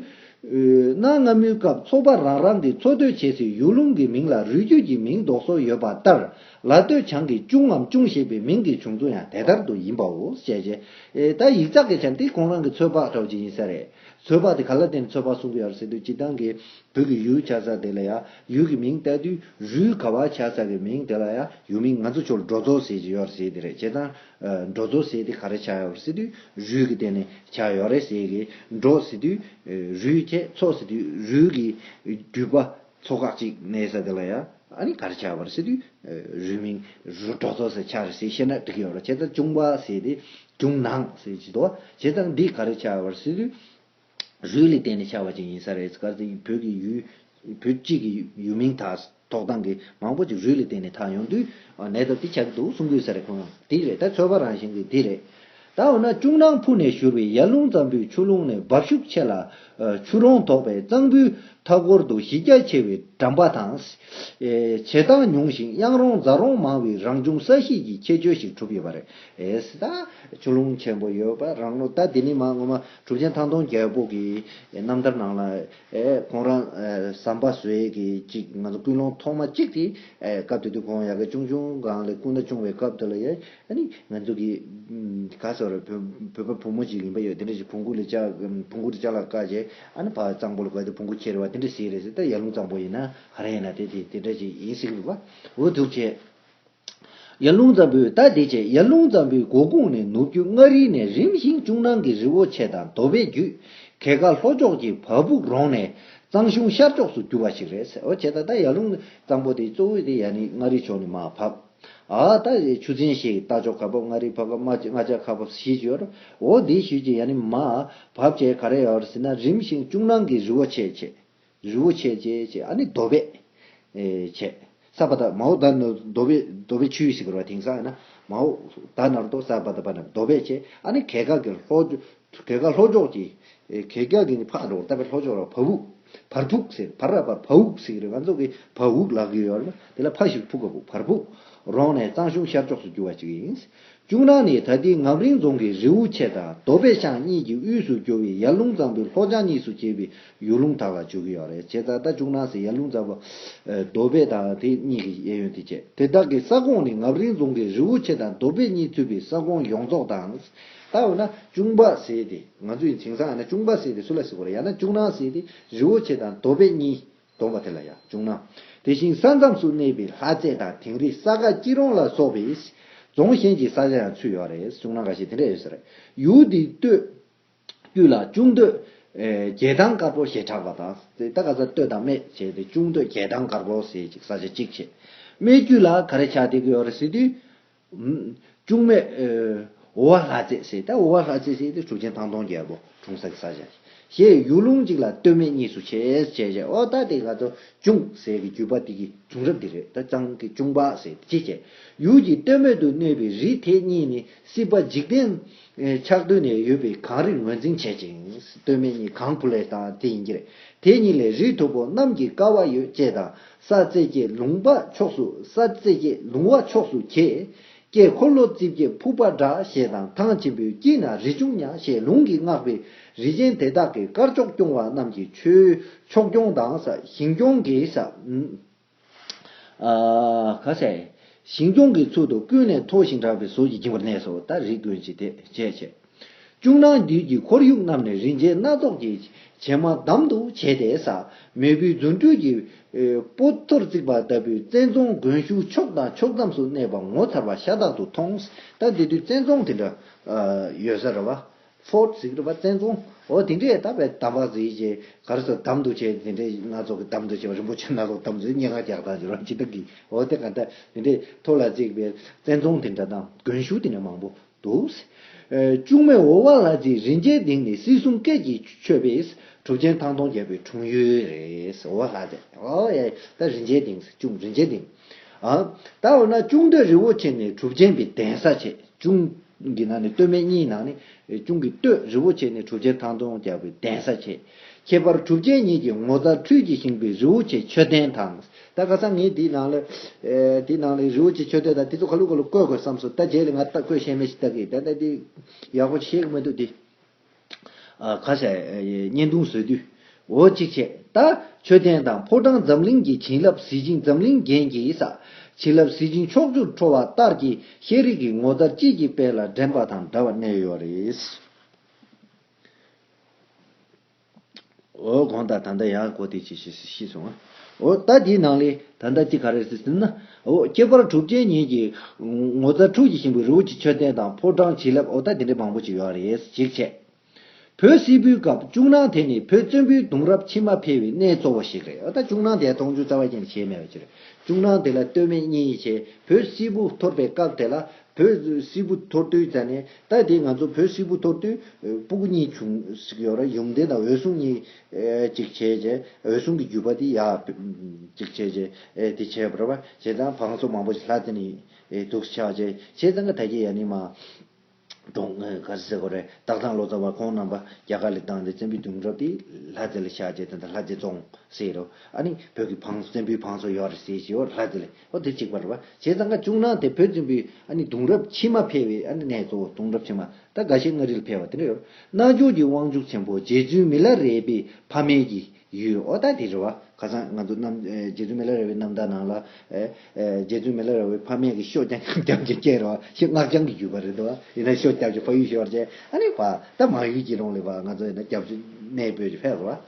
Speaker 1: གནའ་སྔ་མོའི་སྐབས་ཚོ་པ་རང་རང་གི་འཚོ་སྡོད་བྱེད་སའི་ཡུལ་ལུང་གི་མིང་ལ་རུས་རྒྱུད་ཀྱི་མིང་འདོགས་སྲོལ་ཡོད་པ་ལྟར་ལ་སྟོད་བྱང་གི་ཅུང་ངམ་ཅུང་ཞེས་པའི་མིང་གི་བྱུང་ཚུལ་ཡང་དེ་ལྟར་དུ་ཡིན་པའོ། ཞེས་བཞེད། ད་ཡིག་ཚགས་ཀྱི་ཆ་འདི་གོང་རང་གི་ཚོད་དཔག་གྲོགས་ཅིག་ཡིན་ས་རེད། ཚོད་དཔག་དེ་ག་ལ་དེར་ཚོད་དཔག་གསུང་གི་ཡར་སྲིད་དུ་སྐྱིད་ཐང་གི་བོད་ཀྱི་ཡུལ་ཆགས་ས་དེ་ལ་ཡང་ཡུལ་གྱི་མིང་བཏགས་དུས་རུས་ག་བ་ཆགས་ས་གི་མིང་དེ་ལ་ཡང་ཡུལ་མིང་ང་ཚོ་ཆོལ་འགྲོ་ཚོ་ཟེར་གྱི་ཡོད་རེད་ཟེར་གྱི་རེད་བྱས་ཙང། འགྲོ་དོ་ཟེར་ཏེ་ག་རེ་བྱ་ཡོག་ཟེར་དུས་རུས་ཀྱི་སྟེང་ནས་བྱ་ཡོག་རེད་ཟེར་གི་འགྲོ་ཟེར་དུས་རུས་ཁྱད་ཚོགས་ཟེར་དུས་རུས་ཀྱི་རྒྱུས་པ་ཚོ་ཁག་ཅིག་ནས་ཟེར་དེ་ལ་ཡ་ཨ་ནི་ག་རེ་བྱ་ཡོག་པར་ཟེར་དུས་རུས་མིང་རུས་འགྲོ་དོ་ཟེར་ཆག་རེད་ཟེར་བཤད་ན་འགྲིག་ཡོག་ར་བྱས་ད་ཅུང་བ་ཟེར་ཏེ་ཅུང་ནང་ཟེར་བྱས་དོ་བྱས་ད་འདི་ག་རེ་བྱ་ཡོག་པར་ཟེར་དུས། རུས་ལས་བརྟེན་ནས་ཆགས་པ་ཅིག་ཡིན་ས་རེད་སྐར་ཚེ་ཡིས་བོད་ཀྱི་ཡུལ། བོད་སྤྱི་གི་ཡུལ་མིང་དག་ཐོག་ཐང་གི་མང་པོ་ཅིག་རུས་ལས་བརྟེན་ནས་ཐག་ཡོང་དུས། ནད་ད་འདི་ཆགས་ཀྱི་འདུག་གསུང་གི་ས་རེད་ཁོང་ཡང་དེ་རེད་ད་ཚོད་དཔག་རང་བཞིན་གྱི་དེ་རེད། ད་འོ་ན་ཅུང་ནང་ཕུག་ནས་བཞུར་བའི་ཡར་ཀླུང་གཙང་པོའི་ཆུ་ཀླུང་ནས་འབབ་ཤུགས་ཆེ་ལ། ཆུ་རོང་དོག་པའི་གཙང་པོའི་མཐའ་སྐོར་དུ་གཞི་རྒྱ་ཆེ་བའི་གྲམ་པ་དང། བྱེ་ཐང་ཉུང་ཞིང་གཡང་རོང་རྫ་རོང་མང་བའི་རང་བྱུང་ས་གཤིས་ཀྱི་ཁྱད་ཆོས་ཤིག་གྲུབ་ཡོད་པ་རེད། ད་ཆུ་ཀླུང་ཆེན་པོ་ཡོད་པ་རང་ལོ་ད་དེ་ནི་མ་ངོ་མ། གྲུབ་ཆེན་ཐང་སྟོང་རྒྱལ་པོ་གི་རྣམ་ཐར་ནང་ལ། ཁོང་རང་ཟམ་པ་ཟོས་ཀྱི་ཅིག་ང་ཚོ་ཀུན་སློང་ཐོག་མ་གཅིག་དེ་སྐབས་དེ་དུས་ཁོང་ཡ་ག་ཅུང་ཆུང་གང་ལས་སྐུ་ཟླ་ཆུང་བའི་སྐབས་དེ་ལ་ཡ་ནི་ང་ཚོ་གི་ག་ས་རུ་བོད་པ་བུ་མོ་ཅིག་ཡིན་པ་ཡོད་དེ་འདྲ་ཞིག་བོང་གུ་ལས་བོང་གུ་དེ་ལྕགས་ལ་བཀག་རྗེས་ཨ་ནི་བ་གཙང་པོ་ལ་བཀག་སྟེ་བོང་གུ་ཁྱེར་བ་དེ་འདྲ་ཞིག་རེད་ཟེར་ད་ཡར་ཀླུང་གཙང་པོ་ཡིན་ན་ག་རེ་ཡིན་ན་དེ་དེ་འདྲ་ཞིག་ཡིན་སྲིད་འོ་འདུག་བྱས། ཡར་ཀླུང་ཙམ་པོས་རྟ་དེ་བཅད་ཡར་ཀླུང་ཙམ་པོའི་མགོ་ཁུངས་ནས་ནུབ་རྒྱུད་མངའ་རིས་ནས་རིམ་བཞིན་ཅུང་ནང་གི་རི་བོ་ཆེ་དང་དོ་བའི་རྒྱུད། གལ་ཁ་ལྷོ་ཕྱོགས་ཀྱི་བ་སྦུག་རོང་ནས་གཙང་གཞུང་ཤར་ཕྱོགས་སུ་རྒྱུ་བ་ཞིག་རེད་ཟེར་བ་བྱས་ད་ལྟ་ཡར་ཀླུང་ཙམ་པོ་དེ་གཙོ་བོའི་དེ་ཡར་ནི་མངའ་རིས་ཕྱོགས་ནི་མ་བབས། ཨ་ད་ཆུ་ཚན་ཞིག་རྟ་མཆོག་ཁ་བབས་མངའ་རིས་བབས་མ་མངའ་ལྕགས་ཁ་བབས་ཞེས་བརྗོད། འོ་དེའི་ཞོལ་གྱི་ཡར་ནི་མ་བབས་བྱས་ག་རེ་ཡོད་ཟེར་ན་རིམ་བཞིན་ཅུང་ནང་གི་རི་བོ་ཆེ་ཆེ། རི་བོ་ཆེ་བཅས་བཅས་ཨ་ནི་རྡོ་བེད། བྱས། སརྦ་བཏགས་མའོ་བདག་ནི་རྡོ་བེད་རྡོ་བེད་ཆུའི་ཞིག་རོ་དེང་སང་ཡིན་ན། མའོ་བདག་ནར་རྡོ་སརྦ་བཏགས་པ་ནི་རྡོ་བེད་བཅས་ཨ་ནི་གད་གག་གི་ལྷོ། གད་གག་ལྷོ་ཕྱོགས་ཀྱི། གད་གག་གི་ནི་ཕག་རོག་བཏགས་པའི་ལྷོ་ཕྱོགས་ར་བ་བུག། བར་བུག་ཟེར་བར་ར་བ་བ་བུག་ཟེར་རེད་ང་ཚོ་གི་བ་བུག་ལག་གི་ཡོད་རེད་མ་དེ་ལ་ཕག་ཞིག་ཕུག་ག་བུག་བར་བུག། རོང་ནས་གཙང་གཞུང་ཤར་ཕྱོགས་སུ་རྒྱུ་བ་ཅིག་ཡིན། ཅུང་རང་ནི་ད་ལྟའི་ངམ་རིང་རྫོང་གི་རེའུ་ཆེ་དང་རྡོ་སྦེ་ཤང་གཉིས་ཀྱི་དབུས་སུ་རྒྱུ་བའི་ཡར་ཀླུང་གཙང་པོའི་ལྷོ་བྱང་གཉིས་སུ་གྱེས་པའི་ཡུལ་ལུང་དག་ལ་བྱོལ་གྱི་ཡོད་རེད་བྱས་ཙང་ད་ཅུང་རང་སའི་ཡར་ཀླུང་གཙང་པོ། རྡོ་སྦེ་དང་དེ་གཉིས་ཀྱི་གཡས་གཡོན་དེ་བཅས། དེ་དག་གི་ས་ཁོངས་ནི་ངམ་རིང་རྫོང་གི་རེའུ་ཆེ་དང་རྡོ་སྦེ་གཉིས་ཚུད་པའི་ས་ཁོངས་ཡོངས་རྫོགས་དང། ད་འོ་ན་ཅུང་འབའ་ཟས་དེ་ང་ཚོས་ཡིན་ཚིག་ཟངས་ཡིན་ན་ཅུང་འབའ་ཟས་དེ་སུ་ལ་ཟེར་དགོས་རེད་ཡང་ན་ཅུང་རང་ཟས་དེ་རེའུ་ཆེ་དང་རྡོ་སྦེ་གཉིས་དོགས་པ་དེ་ལ་ཡང་བྱུང་ན། དེ་བཞིན་ས་མཚམས་སུ་གནས་པའི་ལྷ་རྩེ་དང་དིང་རི་ས་ག་སྐྱིད་རོང་ལ་སོགས་པའི། རྫོང་གཞན་གྱི་ས་ཆ་ཡང་ཚུད་ཡོད་རེད་བྱུང་ན་འགའ་ཞིག་དེ་འདྲ་ཡོད་ས་རེད། ཡུལ་འདིའི་སྟོད། དཀྱུས་ལ་ཅུང་སྟོད། རྒྱལ་ཐང་དཀར་པོ་ཞེས་གྲགས་པ་དང། དེ་ད་ག་ས་སྟོད་དང་སྨད་བྱས་ཏེ་ཅུང་སྟོད་རྒྱལ་ཐང་དཀར་པོ་ཟེར་ཅིག་ས་ཆ་གཅིག་བྱས། སྨད་དཀྱུས་ལ་ག་རེ་ཆགས་བསྡད་ཀྱི་ཡོད་རེད་ཟེར་དུས། ལྕུག་མས། འོ་བ་ལྷ་རྩེ་ཟེར་ཏེ་འོ་བ་ལྷ་རྩེ་ཟེར་ཏེ་གྲུ་ཆེན་ཐང་སྟོང་རྒྱལ་པོ་དྲུང་ས་ཀྱི་ས་ཞེས་བྱ། ཡུལ་ལུང་གཅིག་ལ་སྟོད་སྨད་གཉིས་སུ་ཕྱེས་ཞེས་བྱ་བའི་འོ་ད་དེ་ག་ཚོད་ཅུང་ཟད་ཀྱི་བརྒྱུད་པ་དེ་གི་བྱུང་རབས་འདི་རེད་ད་གཙང་གི་ཅུང་བག་ཟེར་ཏེ་ཅི་བྱེད། ཡུལ་གྱི་སྟོད་སྨད་དུ་གནས་པའི་རི་དེ་གཉིས་ནི་སྲིད་པ་འཇིག་རྟེན། ཆགས་དུས་ནས་ཡོད་པའི་གངས་རི་ངོས་འཛིན་བྱེད་ཅིང་སྟོད་སྨད་གཉིས་གངས་བུ་ལས་དང་དེ་ཡིན་གྱི་རེད་དེ་གཉིས་ལས་རི་མཐུག་པོ་གནམ་གྱི་ཀ་བ་ཡོད་ཅེས་དང་ས་བརྩེགས་ཀྱི་ལུང་དཔའ་ཕྱོགས་སུ་ས་བརྩེགས་ཀྱི་ལུང་བ་ཕྱོགས་སུ་གྱེས། དཀྱིལ་འཁོར་ལོ་རྩིབས་ཀྱི་ཕུག་པ་དགྲ་ཞལ་དང་ཐང་ཆེན་པོའི་དཀྱིལ་ན་རི་ཆུང་ཉག་ཞེས་ལུང་གིས་བསྔགས་པའི་རི་ཆེན་དེ་དག་གི་དཀར་ཕྱོགས་སྐྱོང་བ་རྣམས་ཀྱི་ཆོས་ཕྱོགས་སྐྱོང་དང། ཞིང་སྐྱོང་གི། ཞིང་སྐྱོང་གི་ཚུལ་དུ་ཀུན་ནས་མཐོ་ཞིང་གྲགས་པའི་ཟོལ་གྱིས་འགྱིང་བར་གནས་སོ། ད་རིས་དགོན་གྱི་དེ་བྱས་བྱས། ཅུང་ནང་རྒྱུད་ཀྱི་ཁོར་ཡུག་རྣམས་ནི་རིན་ཆེན་སྣ་ཚོགས་ཀྱི་བྱེ་མ་འདམ་དུ་བྱས་ཏེ་ཟ་མེད་བུའི་རྫུ་འཕྲུལ་གྱི་སྤོ་ཐོར་བརྩིགས་པ་ལྟ་བུའི་བཙན་རྫོང་དགོན་གཞུག་ཕྱོགས་དང་ཕྱོགས་མཚམས་སུ་གནས་པ་ངོ་མཚར་བ་ཤ་སྟག་ཏུ་མཐོང། ད་དེ་དུས་བཙན་རྫོང་དེ་འདྲ་ཡོད་ས་རེད་བ། Fort Sikrapa བཙན་རྫོང་འོ་དེ་འདྲའི་ད་བའི་དམ་པ་བརྫིས་ཅེས་གར་སོ་འདམ་དུ་བྱས་དེ་འདྲའི་སྣ་ཚོགས་ཀྱི་འདམ་དུ་བྱས་པ་རིན་པོ་ཆེ་སྣ་ཚོགས་འདམ་དུ་སྙན་ངག་རྒྱག་སྟངས་ཀྱི་རོ་ཇི་ལྟར་གྱིས་འོ་དེ་ག་ད་དེ་འདྲའི་ཐོ་ལ་བརྩིགས་པའི་བཙན་རྫོང་དེ་འདྲ་དང་དགོན་གཞུག་དེ་འདྲ་མང་པོ། འདུག། ལྕུག་མའི་འོ་བ་ལ་རྗེ་རིན་ཆེན་གདིང་ནི་སྲིད་གསུམ་སྐད་ཀྱི་མཆོད་པས་གྲུབ་ཆེན་ཐང་སྟོང་རྒྱལ་པོའི་འཁྲུངས་ཡུལ་རེད། འོ་བ་ལྷ་རྫས། ད་རིན་ཆེན་གདིང། ལྕུག་རིན་ཆེན་གདིང། ད་འོ་ན་ལྕུག་འདོད་རི་བོ་ཆེ་ནི་གྲུབ་ཆེན་གྱི་གདན་ས་བྱས། ལྕུག་གི་ནང་ནས་སྟོད་སྨད་གཉིས་ནང་ནས་ལྕུག་གི་སྟོད་རི་བོ་ཆེ་ནི་གྲུབ་ཆེན་ཐང་སྟོང་རྒྱལ་པོའི་གདན་ས་བྱས། ཁྱད་པར་གྲུབ་ཆེན་ཉིད་ཀྱི་ངོ་མཚར་འཕྲུལ་གྱིས་བཞེངས་པའི་རི་བོ་ཆེ་མཆོད་རྟེན་དང། ད་ག་ས་ངས་དེའི་ནང་ལ། དེའི་ནང་ལ་རི་བོ་ཆེ་མཆོད་བསྟོད་དང་དེ་ཚོ་ག་ལུགས་ག་ལུགས་བཀོད་དགོས་བསམས་སོང་ད་རྗེས་ལ་ང་ལྟ་བཀོད་ཤེས་མེད་ཞིག་ལྟ་གི་ཡིན་ད་ལྟ་དེ། ཡག་པོ་ཤེས་གི་མི་འདུག་དེ། ག་ས། བརྙན་ཐུང་བཟོས་དུས། འོ་གཅིག་བྱས། ད། མཆོད་རྟེན་དང་ཕོ་བྲང་འཛམ་གླིང་གི་བྱིན་རླབས་གཟི་བྱིན་འཛམ་གླིང་རྒྱན་གྱིས་ས། བྱིན་རླབས་གཟི་བྱིན་ཕྱོགས་བཅུར་འཕྲོ་བ་ལྟར་གྱི་ཤེས་རིག་གི་ངོ་མཚར་དཔྱིད་ཀྱི་དཔལ་ལ་འགྲན་པ་དང་འདྲ་བར་གནས་ཡོད་རེད། འོ། གང་ལྟར་ད་ལྟ་ཡག་གོ་དེ་ཅི་ཞེས་ཤི་སོང་ང། འོ། ད་དེའི་ནང་ལས་ད་ལྟ་ཅི་ག་རེ་ཟེར་ཟིན་ན། འོ། ཁྱད་པར་གྲུབ་ཆེན་ཉིད་ཀྱི། ངོ་མཚར་ཁྲུས་ཀྱི་ཤིང་བུའི་རི་བོ་ཆེ་མཆོད་རྟེན་དང་ཕོ་བྲང་བྱིན་རླབས་འོ་ད་དེ་འདྲའི་མང་པོ་ཅིག་ཡོད་རེད་ཅིག་བྱས། བོད་སིལ་བུའི་སྐབས་བཅུག་ནང་དེ་ནི་བོད་བཙན་པོའི་གདུང་རབས་ཕྱི་མ་འཕེལ་བའི་གནས་གཙོ་བོ་ཞིག་རེད་འོ་ད་བཅུག་ནང་དེ་མཐོང་ཆུང་རྩ་བ་ཅན་གྱིས་བྱས་མེད་པ་ཅི་རེད་བཅུག་ནང་དེ་ལ་ལྟོས་མེད་གཉིས་བྱས་བོད་སིལ་བུ་འཐོར་པའི་སྐབས་དེ་ལ་བོད་སིལ་བུ་འཐོར་དུས་ད་ནི་ལྟ་དེ་ང་ཚོ་བོད་སིལ་བུ་འཐོར་དུས་སྤུ་གུ་གཉིས་བྱུང་ཟིག་ཡོད་རེད་ཡུམ་བདེན་དང་འོད་སྲུང་གཉིས་ཅིག་བྱས་རྗེས་འོད་སྲུང་གི་རྒྱུད་པ་དེ་ཡག་ཅིག་བྱས་རྗེས་དེ་བྱས་པར་བྱས་ཙང་བང་སོ་མང་པོ་ཞིག་ལྷ་དེ་ནས་དུག་ཆགས་རྗེས་བྱས་ཙང་གི་ད་གི་ཡ་ནི་མ་གྲོངས་ག་ཟེ་ཟེ་གོ་རེད་སྟག་ཚང་ལོ་ཙཱ་བ་ཁོང་རྣམ་པ་རྒྱ་གར་ལས་བཏང་སྟེ་བཙན་པོའི་དུས་འགྲོ་དུས་ལྷ་དེ་ལ་ཆགས་རྗེས་དེ་ལ་ལྷ་དེ་བཙོང་ཟེ་རོ་ཨ་ནི་བོད་ཀྱི་བང་སོ་བཙན་པོའི་བང་སོ་ཡོད་རེད་ཟེ་ཞེས་ལྷ་དེ་ལ། ཨོ་དེ་གཅིག་པར་བ་ཞེས་ཙང་ཁ་བཅུག་ན་དེ་བོད་བཙན་པོའི་ཨ་ནི་གདུང་རབས་ཕྱི་མ་འཕེལ་བའི་ཨ་ནི་གནས་གཙོ་བོ་གདུང་རབས་ཕྱི་མ་ད་ག་ཤེད་མངའ་རིས་ལ་འཕེལ་བ་དེ་འདྲ་ཡོད་རྣལ་འབྱོར་གྱི་དབང་ཕྱུག་ཆེན་པོ་རྗེ་བཙུན་མི་ལ་རས་པའི་ཕ་མེས་ཀྱི་ཡུལ་ཨོ་ད་དེ་འདྲ་བ་ཁ་སང་ང་ཚོ་རྣམ་རྗེ་བཙུན་མི་ལ་རས་པའི་རྣམ་ཐར་ནང་ལ་རྗེ་བཙུན་མི་ལ་རས་པའི་ཕ་མེས་ཀྱི་ཤོ་རྐྱང་རྐྱང་ཀྱི་སྐྱེ་རོ་ཞེས་སྔགས་འཆང་གི་ཡུལ་བ་རེད་དོ་ཡིན་ན་ཤོ་རྐྱང་ཀྱི་ཕ་ཡུལ་ཞེས་བར་བྱས་ཨ་ནི་བ་ད་མང་ཡུལ་གྱི་རོང་ལི་བ་ང་ཚོ་ཡིན་ན་རྒྱ་བཙུན་གནས་སྤོས་ཀྱི་ཕས་རོ་བ།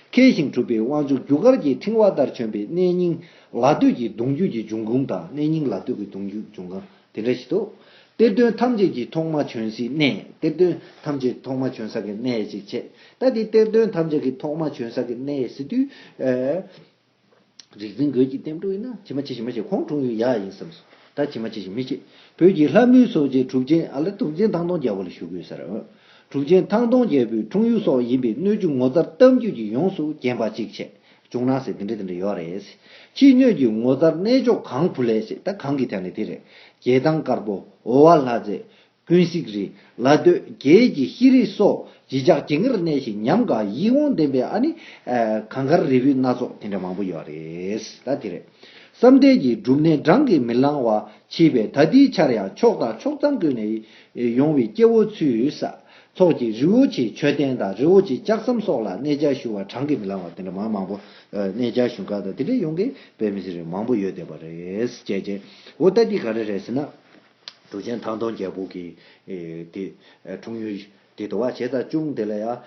Speaker 1: མཁས་ཤིང་གྲུབ་པའི་དབང་ཕྱུག་རྒྱུ་སྐར་གྱི་ཕྲེང་བ་ལྟར་བྱོན་པའི་གནས་རྙིང། ལ་སྟོད་ཀྱི་གདུང་རྒྱུད་ཀྱི་འབྱུང་ཁུངས་དང་གནས་རྙིང་ལ་སྟོད་ཀྱི་གདུང་རྒྱུད་འབྱུང་ཁམས་དེ་འདྲ་ཞིག་ཏུ། གཏེར་སྟོན་ཐམས་ཅད་ཀྱི་ཐོག་མ་བྱོན་སའི་གནས་གཏེར་སྟོན་ཐམས་ཅད་ཐོག་མ་བྱོན་ས་ཀྱི་གནས་ཅིག་བྱས། ད་དེ་གཏེར་སྟོན་ཐམས་ཅད་ཀྱི་ཐོག་མ་བྱོན་ས་ཀྱི་གནས་ཟེར་དུས། རིག་འཛིན་རྒོད་ཀྱི་གཏེར་འབྲུ་ཡིན་ན་ཇི་མ་ཇི་བཞིན་མ་ཤེས་ཁོང་འཁྲུངས་ཡུལ་ཡག་ཡིན་བསམས་སོ། ད་ཇི་མ་ཇི་བཞིན་མི་ཤེས། བོད་ཀྱི་ལྷ་མོའི་སོགས་ཀྱི་གྲུབ་ཆེན་ཨ་ལ་གྲུབ་ཆེན་ཐང་སྟོང་རྒྱལ་པོ་ལ་ཞུ་དགོས་ཟེར། གྲུབ་ཆེན་ཐང་སྟོང་རྒྱལ་པོའི་འཁྲུངས་ཡུལ་སོགས་ཡིན་པའི་སྣོད་བཅུད་ངོ་མཚར་གཏམ་རྒྱུད་ཀྱིས་ཡོངས་སུ་བརྒྱན་པ་ཅིག་བྱས། བྱུང་ན་ཟེར་དེ་འདྲ་དེ་འདྲ་ཡོད་རེད། ཕྱིས་སྙོད་ཀྱི་ངོ་མཚར་གནས་མཆོག་གངས་བུ་ལས་ཟེར་ད་གངས་ཀྱི་དལ་ནི་དེ་རེད། རྒྱལ་ཐང་དཀར་པོ་ཨོ་བ་ལྷ་རྫས། ཀུན་གཟིགས་རི་ལ་སྟོད་རྒྱལ་གྱི་ཤེས་རིག་སོགས་བརྗིད་ཆགས་ཇི་འགར་གནས་ཤིང་ཉམས་དགའ་ཡིད་འོང་ལྡན་པའི་ཨ་ནི། གངས་དཀར་རི་བོའི་སྣ་ཚོགས་དེ་འདྲ་མང་པོ་ཡོད་རེད་ད་དེ་རེད། བསམ་གཏན་གྱི་སྒྲུབ་གནས་བགྲང་གིས་མི་ལང་བ་མཆིས་པས་ད་འདིའི་ཆར་ཡང་ཕྱོགས་དང་ཕྱོགས་མཚམས་ཀུན་ནས་ཡོང་བའི་སྐྱེ་བོ་ཚོས་ས་ཚོགས་ཀྱི་རི་བོ་ཆེའི་མཆོད་རྟེན་དང་རི་བོ་ཆེའི་ལྕགས་ཟམ་སོགས་ལ་གནས་བཅའ་ཞུ་བར་བགྲང་གིས་མི་ལང་བ་དེ་འདྲ་མང་མང་པོ། གནས་བཅའ་ཞུ་འགག་དང་དེ་འདྲ་ཡོང་གིས་པའི་མི་ཚེ་རིང་མང་པོ་ཡོད་བསྡད་པ་རེད། ཅེས་བརྗེད། འོ་ད་འདི་ག་རེ་རེད་ཟེར་ན། འབྲུག་ཆེན་ཐང་སྟོང་རྒྱལ་པོ་གིས། དེ། འཁྲུངས་ཡུལ། དེ་དུ་བ་བྱས་ཙང་ཅུང་དེ་ལ་ཡང།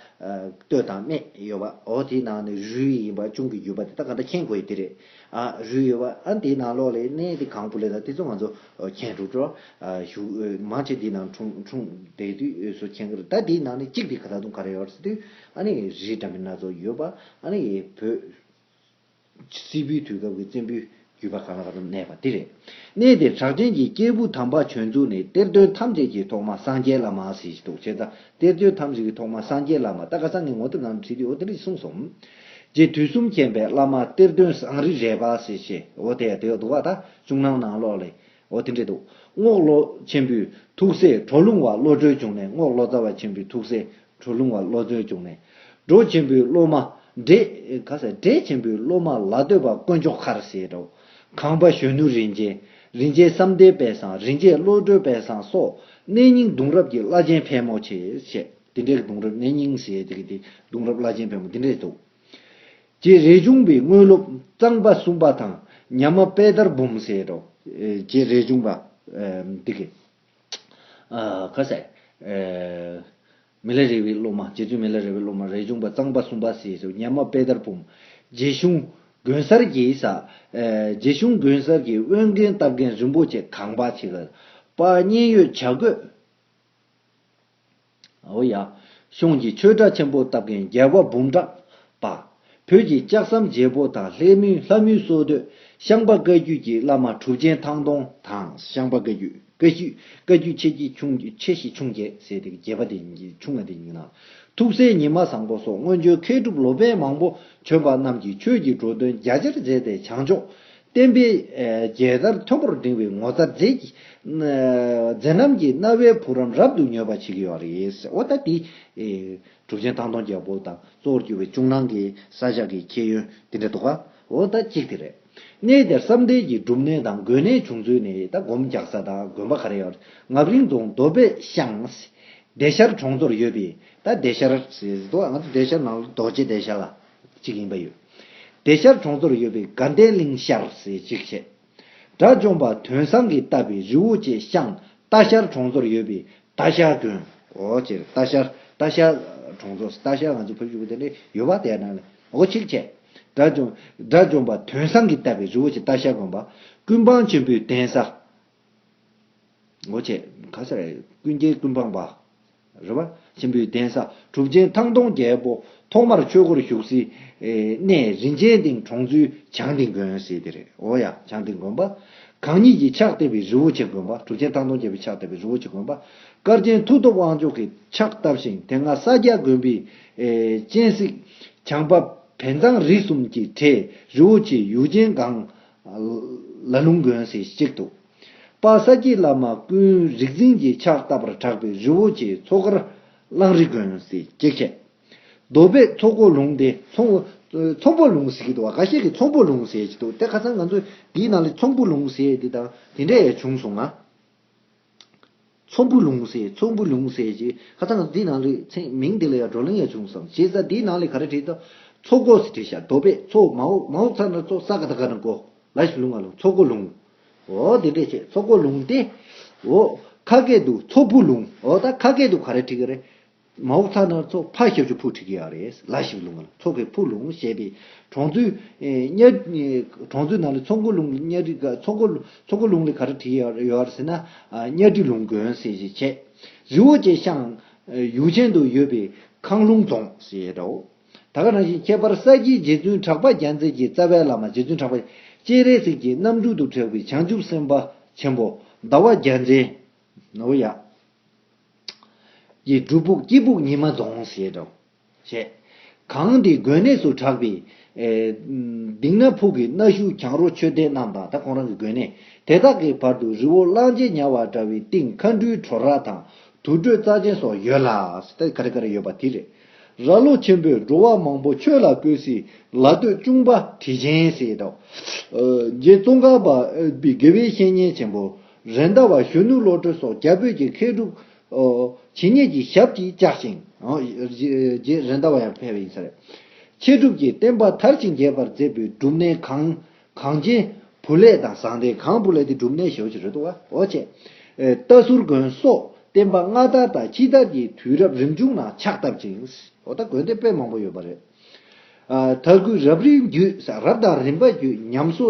Speaker 1: ལྟོས་དང་སྨྲས་ཡོད་པ། འོ་དེའི་ནང་ནས་རུས་ཡིན་པ་ཅུང་གི་བརྒྱུད་པ་དེ་དག་ག་འདྲ་མཁྱེན་དགོས་ཡི་དེ་རེད། ཨ་རུས་ཡོད་པ་ཨ་འདིའི་ནང་ལོགས་ལས་གནས་དེ་གང་པོ་ལས་ད་དེ་ཚོ་ང་ཚོ་ཁྱེད་འགྲོ་འགྲོ་ཞུགས་མ་ཆེ་འདི་ནང་འཁྲུངས་འཁྲུངས་བསྡད་དུས་སུ་ཁྱེད་འགར་ད་འདིའི་ནང་ནས་གཅིག་འདི་ག་ད་དུང་ག་རེ་ཡོད་དུས་ཨ་ནི་རི་འདྲ་མིན་སྣ་ཚོགས་ཡོད་པ་ཨ་ནི་བོད་སིལ་བུའི་དུས་སྐབས་ཀྱི་བཙན་པོའི་རྒྱུད་པ་གང་ལ་ག་ཚོད་གནས་པ་འདི་རེད་གནས་དེར་གྲགས་ཅན་གྱི་སྐྱེས་བུ་དམ་པ་བྱོན་ཚུལ་ནི་གཏེར་སྟོན་ཐམས་ཅད་ཀྱི་ཐོག་མ་སངས་རྒྱས་བླ་མ་ཟེར་གྱི་འདུག་བྱས་ཙང་གཏེར་སྟོན་ཐམས་ཅད་ཀྱི་ཐོག་མ་སངས་རྒྱས་བླ་མ་ད་ག་ས་ནས་ངོ་དེབ་ནང་དུ་བྲིས་དུས་འོ་དེ་འདྲ་གསུངས་སོང། རྗེ་དུས་གསུམ་མཁྱེན་པའི་བླ་མ་གཏེར་སྟོན་བཟང་རི་རས་པ་ཟེ་ཞེས་འོ་དེ་དེའོ་དུ་བ་དག་བྱུང་སྣང་ནང་ལོག་ལས་འོ་དེ་འདྲེ་དུ་རྔོག་ལོ་ཆེན་པོའི་ཐུགས་སྲས་གྲོ་ལུང་བ་བློ་གྲོས་བྱུང་ནས་རྔོག་ལོ་ཙཱ་བ་ཆེན་པོའི་ཐུགས་སྲས་གྲོ་ལུང་བ་བློ་གྲོས་བྱུང་ནས་འབྲོ་ཆེན་པོའི་སློབ་མ་འདྲེ་ག་ཟེ་འདྲེ་ཆེན་པོའི་སློབ་མ་ལ་སྟོད་པ་དཀོན་མཆོག་མཁར་ཟེ་རོ་གངས་པ་གཞོན་ནུ་རིན་ཆེན་རིན་ཆེན་བསམ་གཏན་དཔལ་བཟང་རིན་ཆེན་བློ་གྲོས་དཔལ་བཟང་སོགས་གནས་རྙིང་གདུང་རབས་ཀྱི་བླ་ཆེན་ཕལ་མོ་ཆེ་བཤད། འདི་འདྲའི་གདུང་རབས་གནས་རྙིང་ཟེར་ཡས་དེ་གི་དེ་གདུང་རབས་བླ་ཆེན་བོན་པོ་འདི་འདྲས་འདུག། རྗེ་རས་ཆུང་པའི་དངོས་སློབ་གཙང་པ་གསུམ་པ་དང་ཉམས་མ་དཔལ་དར་འབུམ་ཟེར་རོ། རྗེ་རས་ཆུང་པ། དེ་གི། ཁ་ཟས། མི་ལ་རས་པའི་སློབ་མ་རྗེ་བཙུན་མི་ལ་རས་པའི་སློབ་མ་རས་ཆུང་པ་གཙང་པ་གསུམ་པ་ཟེར་རོ་ཉམས་མ་དཔལ་དར་འབུམ། རྗེ་གཞུང་དགོན་གསར་གྱི་ས། རྗེ་གཞུང་དགོན་གསར་གྱི་དབོན་རྒན་སྟབས་རྒན་རིན་པོ་ཆེ་གངས་པ་ཆེ་ག་པ་མཉན་ཡོད་བྱ་རྒོད། ཨོ་ཡ། གཤོངས་ཀྱི་ཆོས་གྲྭ་ཆེན་པོ་བཏབ་མཁན་རྒྱལ་བ་འབུམ་ཕྲག་པ། བོད་ཀྱི་ལྕགས་ཟམ་རྒྱལ་པོ་དང་ལྷ་མིའི་ལྷ་མོའི་སྲོག་བསྡོས་ཤངས་པ་བཀའ་བརྒྱུད་ཀྱི་བླ་མ་གྲུབ་ཆེན་ཐང་སྟོང་དང་ཤངས་པ་བཀའ་བརྒྱུད་བཀའ་བརྒྱུད་ཆེ་གེ་ཆུང་ཆེ་ཞེ་ཆུང་བརྒྱད་ཟེར་དེ་བརྒྱད་པ་དེ་ཆུང་བ་དེ་ཡིན་ན། ཐུགས་སྲས་ཉི་མ་བཟང་པོ་སོགས་སྔོན་བྱོན་མཁས་གྲུབ་ལོ་པན་མང་པོ་བྱོན་པ་རྣམས་ཀྱིས་ཆོས་ཀྱི་འགྲོ་དོན་རྒྱ་ཆེར་མཛད་དེ་བྱང་ཕྱོགས་བསྟན་པའི་རྒྱལ་དར་མཐོན་པོར་བསྒྲེངས་པའི་ངོ་ཚ་མཛེས། མཛེས་རྣམ་གྱི་རྣ་བའི་བུ་རམ་རབ་ཏུ་མྱོས་པ་བྱེད་ཀྱི་ཡོད་རེད། འོ་ད་དེ། གྲུབ་ཆེན་ཐང་སྟོང་རྒྱལ་པོ་དང་གཙོ་བོར་གྱུར་བའི་ཅུང་ནང་གི་ས་བཞག་གི་ཁྱད་ཡོན་དེ་འདྲ་འདུག་ག། འོ་ད་གཅིག་དེ་རེད། གནས་དེར་བསམ་གཏན་གྱི་སྒྲུབ་གནས་དང་དགོན་གནས་བྱུང་ཚུལ་ནི་ད་སྒོམ་རྒྱག་ས་དང་དགོན་པ་ག་རེ་ཡོད། ངག་རིང་རྫོང་རྡོ་སྦས་ཤང། བདེ་ཤར་གྲོང་ཚོར་ཡོད་པས་ད་བདེ་ཤར། ང་ཚོ་བདེ་ཤར་ནང་རྡོ་རྗེ་བདེ་ཤར་ལ། ཅིག་ཡིན་པ་ཡོད། བདེ་ཤར་གྲོང་ཚོར་ཡོད་པའི་དགའ་ལྡན་གླིང་ཤར་ཟེར་ཅིག་བྱས། དགྲ་བཅོམ་པ་དོན་བཟང་གིས་བཏབ་པའི་རི་བོ་བཅས་ཤང་རྟ་ཤར་གྲོང་ཚོར་ཡོད་པའི་རྟ་ཤར་དགོན། འོ་སྤྱིར་རྟ་ཤར་རྟ་ཤར་གྲོང་ཚོ་རྟ་ཤར་ང་ཚོ་ཕེབས་བཞུགས་པ་དེ་འདྲ་ཡོད་པ་དེའི་ནང་ལས་འོ་ཅིག་བྱས། དགྲ་བཅོམ་དགྲ་བཅོམ་པ་དོན་བཟང་གིས་བཏབ་པའི་རི་བོ་བཅས་རྟ་ཤར་དགོན་པ། ཀུན་སྤངས་ཆེན་པོའི་གདན་ས། སྒོ་ཕྱེ། ག་སར་ཡོད་ཀུན་མཁྱེན་ཀུན་སྤངས་པ། རེ་བ། ཆེན་པོའི་གདན་ས་གྲུབ་ཆེན་ཐང་སྟོང་རྒྱལ་པོ་ཐོག་མར་ཆོས་སྒོར་ཞུགས། སིད་སྣེ་རིན་ཆེན་སྡིངས་གྲོང་ཚུལ་བྱང་སྡིངས་དགོན། སིད་སྡེ་རེད་འོ་ཡ། བྱང་སྡིངས་དགོན་པ། གང་ཉིད་ཀྱི་ཕྱག་བཏབ་པའི་རི་བོ་ཆེ་དགོན་པ་གྲུབ་ཆེན་ཐང་སྟོང་རྒྱལ་པོའི་ཕྱག་བཏབ་པའི་རི་བོ་ཆེ་དགོན་པ། སྐར་ཆེན་མཐུ་སྟོབས་དབང་ཕྱུག་གི་ཕྱག་བཏབ་ཞིང་དེ་སྔ་ས་སྐྱ་དགོན་པའི། སྤྱན་གཟིགས། བྱང་པ་བན་གཙང་རིགས་གསུམ་གྱི་གྲས་རི་བོ་ཆེའི་ཡུག་ཆེན་སྒང། ལ་ལུང་དགོན་སེ་གཅིག་ཏུ། པ་ས་སྐྱའི་བླ་མ་ཀུན་རིག་འཛིན་གྱིས་ཕྱག་བཏབ་པར་གྲགས་པའི་རི་བོ་ཆེའི་མཚོ་ཁར་གླང་རི་དགོན་སེ་གཅིག་བྱས། རྡོ་སྦས་མཚོ་སྐོར་ལུང་དེ་ཚོང་པོ་ལུང་སེ་གཅིག་ཏུ་བ་ག་ཤེད་ཀྱི་ཚོང་པོ་ལུང་སེ་གཅིག་ཏུ་དེ་ཁ་སང་ང་ཚོས་འདིའི་ནང་ལས་ཚོང་པོ་ལུང་སེ་འདི་དང་དེ་འདྲ་ཡང་བྱུང་སོང་ང། ཚོམ་བུ་ལུང་གསལ་ཚོམ་བུ་ལུང་གསལ་ཞེས་ཁ་བཏགས་འདི་ནང་ལུས་ཚེགས་མིང་འདི་ལ་ཡང་བགྲོ་གླེང་ཡང་བྱུང་སོང་ཞེས་ས་འདིའི་ནང་ལས་ག་རེ་བྲིས་དང་མཚོ་སྒོ་ཞེས་བྲིས་ཤག་རྡོ་པས་མཚོ་མ་འོག་མ་འོག་ཚ་ན་ཚོ་ས་ག་ད་ག་ན་གོ་ལ་ཞེས་ལུང་ང་ལུང་མཚོ་སྒོ་ལུང་འོ་འདི་འདྲས་བྱས་མཚོ་སྒོ་ལུང་སྟེ་འོ་ཁ་སྐད་དུ་མཚོ་བུ་ལུང་འོ་ད་ཁ་སྐད་དུ་ག་རེ་བྲིས་ག་རེ་མ་འོག་ཐ་ན་ཚོགས་ཕག་ཞབས་ཀྱི་ཕུག་ཁྲིད་ཀྱི་ཡང་རེད་ལ་ཞིག་ལུང་ཚོགས་ཀྱི་ཕུག་ལུང་ཞེས་པའི་གྲོང་ཚོའི་གྲོང་ཚོའི་ནང་ལ་ཚོགས་འཁོར་ལུང་ལ་གཉའ་ཁྲི་ཚོགས་འཁོར་ཚོགས་འཁོར་ལུང་ལ་ག་རེ་བྲིས་ཡོད་ཡོད་ཟེར་ན་གཉའ་ཁྲི་ལུང་དགོན་ཟེར་ཞེས་བྱས། རི་བོ་ཆེ་ཤང་ཡུག་ཆེན་དུ་ཡོད་པའི་ཁང་ལུང་རྫོང་ཞེས་བྲིའོ། ད་ག་རང་བཞིན་ཁྱད་པར་ས་སྐྱའི་རྗེ་བཙུན་གྲགས་པ་རྒྱ་མཚན་གྱི་རྩ་བའི་བླ་མ་རྗེ་བཙུན་གྲགས་པ་སྤྱན་རས་གཟིགས་ཀྱི་རྣམ་སྤྲུལ་དུ་གྲགས་པའི་བྱང་ཆུབ་སེམས་དཔའ་ཆེན་པོ་ཟླ་བ་རྒྱལ་མཚན། ནོར་བུ་ཡག། ཀྱི་སྒྲུབ་ཕུག་སྐྱིད་ཕུག་ཉི་མ་རྫོང་ཞེས་དྲོ། ཞེས། གངས་ཏི་དགོན་གནས་སུ་གྲགས་པའི། སྡིག་ན་ཕུག་གི་གནའ་ཤུལ་གྱང་རོ་མཆོད་རྟེན་རྣམས་དང་ད་ཁོང་རང་གི་དགོན་གནས་དེ་དག་གི་བར་དུ་རི་བོ་གླང་རྗེ་ཉལ་བ་འདྲ་བའི་སྟེང་མཁའ་འགྲུལ་བྲོ་ར་དང་དུར་ཁྲོད་རྩ་ཆེན་སོགས་ཡོད་ལ། ད་ག་རེ་ག་རེ་ཡོད་པ་དེ་རེད། ར་ལོ་ཆེན་པོས་འགྲོ་བ་མང་པོ་ཆོས་ལ་བསྐོས་སྲིད་ལ་སྟོད་གཅུང་པ་དྲི་ཆེན་ཞེས་དྲོ། རྗེ་ཙོང་ཁ་པ་པའི་དགེ་བའི་བཤེས་གཉེན་ཆེན་པོ། རེན་ཟླ་བ་གཞོན་ནུ་བློ་གྲོས་སོགས་རྒྱ་བོད་ཀྱི་མཁས་གྲུབ། ཇི་སྙེད་ཀྱི་ཞབས་ཀྱིས་བཅགས་ཤིང། རྗེ་རེན་ཟླ་བ་ཡང་ཕེབས་པ་ཡིན་ས་རེད། མཁས་གྲུབ་ཀྱི་བསྟན་པ་མཐར་ཕྱིན་རྒྱས་པར་མཛད་པའི་སྒྲུབ་གནས་གང། གངས་ཅན་བུ་ལས་དང་ཟང་ཐལ་གངས་བུ་ལས་ཏེ་སྒྲུབ་གནས་ཞེས་བྱ་རེད་དོ། འོ་ཅེ། རྟ་ཟུར་དགོན་སོགས་བསྟན་པ་སྔ་དར་དང་ཕྱི་དར་གྱི་དུས་རབས་རིམ་བྱུང་ནང་ཕྱག་བཏབ་ཅིང། འོ་ད་དགོན་སྡེ་དཔེ་མང་པོ་ཡོད་པ་རེད། དར་གུད་རབ་རིབ་བརྒྱུད། རབ་དང་རིམ་པ་བརྒྱུད་ཉམས་སོ་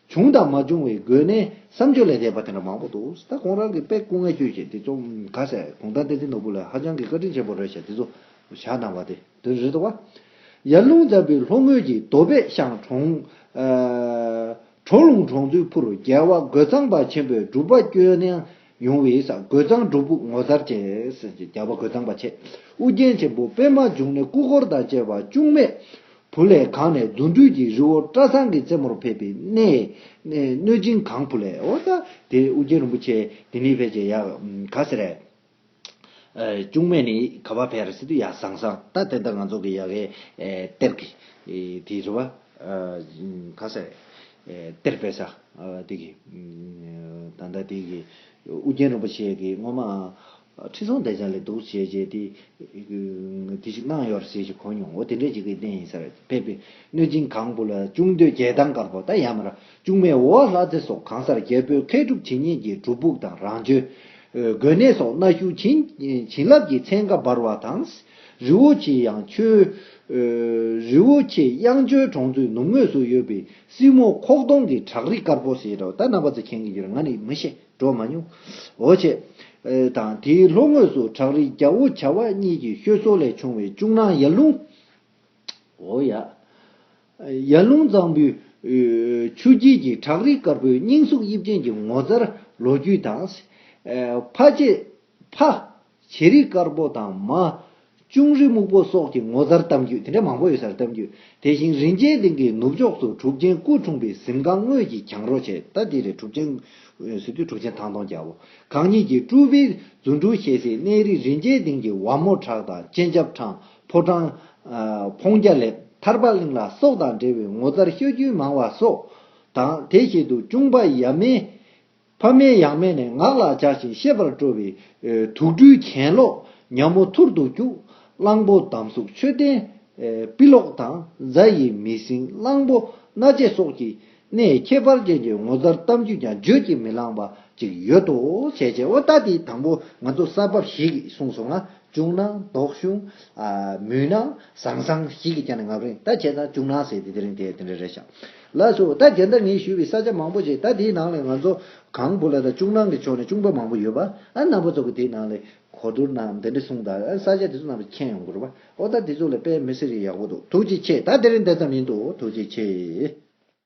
Speaker 1: བྱུང་དང་མ་བྱུང་བའི་སྒོས་ནས་བསམ་སྤྱོད་ལས་འདས་པ་དེ་འདྲ་མང་པོ་འདུག་ད་ཁོང་རང་གིས་དཔེ་སྐུ་ངལ་སྤྱོད་བྱས་དེ་ཚོ་ག་ས་གུང་ཐང་བསྟན་འཛིན་ནོར་བུ་ལས་ཧ་ཅང་གི་བཀའ་དྲིན་ཆེན་པོ་རེད་བྱས་དེ་ཚོ་བཞག་གནང་བ་དེ་དོན་རེད་དོ། ཡར་ཀླུང་ཛམ་བུའི་ལྷོ་ངོས་ཀྱི་རྡོ་སྦས་ཤང་གྲོང། གྲོག་ལུང་གྲོང་ཚོའི་ཕུར་རྒྱལ་བ་རྒོད་ཚང་པ་ཆེན་པོའི་སྒྲུབ་པ་སྐྱོན་གནང་ཡོང་བའི་ས་རྒོད་ཚང་སྒྲོ་སྦུག་ངོ་མཚར་ཅན། རྒྱལ་བ་རྒོད་ཚང་པ་ཆེ་ཨུ་རྒྱན་ཆེན་པོ་པད་མ་འབྱུང་གནས་སྐུ་འཁོར་དང་བཅས་པ་ཅུང་མེད་བུ་ལས་གང་ནས་གདུང་རྒྱུད་ཀྱི་རི་བོ་བཀྲ་ཚང་གི་རྩེ་མོར་ཕེབས་པའི་གནས། གནོད་སྦྱིན་གང་བུ་ལས་འོ་ད་དེ་ཨུ་རྒྱན་རིན་པོ་ཆེ་དེ་ནི་ཕལ་ཆེར་ཡ། ག་ཟེ་རེད། ཅུང་མེད་ནི་ག་བ་ཕལ་སི་ཏུ་ཡ་བཟང་བཟང་ད་དེ་ལྟར་ང་ཚོ་གི་ཡ་གའི་གཏེར་གྱི་དེའི་རི་བ། ག་ཟེ་རེད། གཏེར་དཔལ་ས་དེ་གི། ད་ལྟ་དེ་གི། ཨུ་རྒྱན་རིན་པོ་ཆེ་གི་སྔོན་མའང། ཁྲི་སྲོང་བདེ་འཇགས་ལས་འདུག་བྱས་རྗེས་དེ། དེ་ཞིག་གནང་ཡོད་རེད་ཟེར་ཞིག་གོ་མྱོང་ཨོ་དེ་འདྲའི་ཞིག་གི་རྟེན་ཡིན་ས་རེད་ཕེབས་པའི་གནོད་སྦྱིན་གང་བུ་ལ་ཅུང་སྟོད་རྒྱལ་ཐང་དཀར་པོ་ད་ཡ་མ་ར་ཅུང་མའི་འོ་བ་ལྷ་རྩེ་སོགས་གང་སར་རྒྱལ་པོའི་མཁས་གྲུབ་ཇི་སྙེད་ཀྱི་སྒྲུབ་ཕུག་དང་རང་བྱོན། དགོན་གནས་སོགས་གནའ་ཤུལ་བྱིན་རླབས་ཀྱི་ཚན་ཁ་འབར་བ་དང། རི་བོ་ཆེ་གཡང་ཆོལ། རི་བོ་ཆེ་གཡང་ཆོལ་གྲོང་ཚོའི་ནུབ་ངོས་སུ་ཡོད་པའི་སྲིན་མོ་ཁོག་སྟོང་གི་བྲག་རི་དཀར་པོ་ཞེས་གྲགས། ད་ནང་པ་ཚོས་མཁྱེན་གི་ཡོད་རེད་ང་ནི་མི་ཤེས་འགྲོ་མ་མྱོང། འོ་ཆེ། དང་དེའི་ལྷོ་ངོས་སུ་བྲག་རི་རྒྱ་བོ་བྱ་བ་གཉིས་ཀྱི་ཤོད་སྲོལ་ལས་བྱུང་བའི་ཅུང་ནང་ཡར་ལུང། འོ་ཡ། ཡར་ལུང་གཙང་པོའི་ཆུ་དཀྱིལ་གྱི་བྲག་རི་དཀར་པོའི་སྙིང་གཟུགས་དབྱིབས་ཅན་གྱི་ངོ་མཚར་ལོ་རྒྱུས་དང། ཕ་ཆེ། ཕ། བྱེ་རིགས་དཀར་པོ་དང་མ། ཅུང་རི་སྨུག་པོ་སོགས་ཀྱི་ངོ་མཚར་གཏམ་རྒྱུད་དེ་འདྲ་མང་པོ་ཡོད་སར་གཏམ་རྒྱུད་དེ་བཞིན་རིན་ཆེན་གདིང་གི་ནུབ་ཕྱོགས་སུ་གྲུབ་ཆེན་སྐུ་འཁྲུངས་པའི་གཟིམ་ཁང་དངོས་ཀྱི་གྱང་རོ་ཆེ་ད་དེ་ལས་གྲུབ་ཆེན། སི་ཏུ་གྲུབ་ཆེན་ཐང་སྟོང་རྒྱལ་པོ་གང་ཉིད་ཀྱི་སྤྲུལ་པའི་རྫུ་འཕྲུལ་ཞལ་གཟིགས་གནས་རི་རིན་ཆེན་གདིང་གི་བ་མོ་བྲག་དང་སྤྱན་ཆབ་འཕྲང་ཕོ་བྲང། འཕོང་རྒྱ་ལེབ་ཐར་པ་གླིང་ལ་སོགས་དང་འབྲེལ་བའི་ངོ་མཚར་ཤོད་རྒྱུན་མང་བ་སོགས་དང་དེ་བཞིན་དུ་ཅུང་པ་ཡབ་མེས། ཕ་མའི་ཡང་མེ་ནས་ངག་ལ་འཇགས་ཤིང་ཤེས་པར་སྤྲོ་བའི། དུག་སྦྲུལ་གྱེན་ཀློག་ཉམས་མོ་ཐུར་དུ་སྐྱུག། གླང་པོ་དམ་གཟུགས་མཆོད་རྟེན་དཔེ་ཀློག་དང་རྫ་ཡི་མི་སྲིང་གླང་པོ་སྣ་ལྕེ་སོགས་ཀྱི། ནས་ཁྱད་པར་ཅན་གྱི་ངོ་མཚར་གཏམ་རྒྱུད་ཀྱང་བརྗོད་ཀྱིས་མི་ལངས་པ་ཅིག་ཡོད་དོ། བྱས་བྱས་འོ་ད་དེའི་དང་པོ་ང་ཚོ་གསར་བབས་ཤིག་གསུངས་སོང་ང། བྱུང་ན་དོགས་གཞུང། མུན་ནག་ཟང་ཟང་ཞིག་གིས་ཀྱང་ནི་ངབ་རེངས་ད་བྱས་ན་བྱུང་ན་ཟེར་ཏེ་དེ་རིང་དེ་དེ་འདྲ་རེད་ཤག་ལ་སོ་ད་གལ་ཏར་ངས་ཞུས་པའི་ས་ཆ་མང་པོ་ཞིག་ད་དེའི་ནང་ལས་ང་ཚོ་གང་བུ་ལ་ད་ཅུང་ནང་གི་ཕྱོགས་ནས་ཅུང་པ་མང་པོ་ཡོད་པ་ཨ་ནག་པོ་ཚོ་གི་དེའི་ནང་ལས་གོ་བསྡུར་ན་འདི་འདྲ་སོང་ད་ཨ་ས་ཆ་དེ་ཚོ་ནང་ལ་མཁྱེན་ཡོང་དགོས་རོ་པ་ཨོ་ད་དེ་ཚོ་ལ་དཔེ་མི་སེར་ཡག་པོ་འདུག་ཐུགས་རྗེ་ཆེ་ད་དེ་རིང་འདི་ཙམ་ཡིན་འདུག་ཐུགས་རྗེ་ཆེ།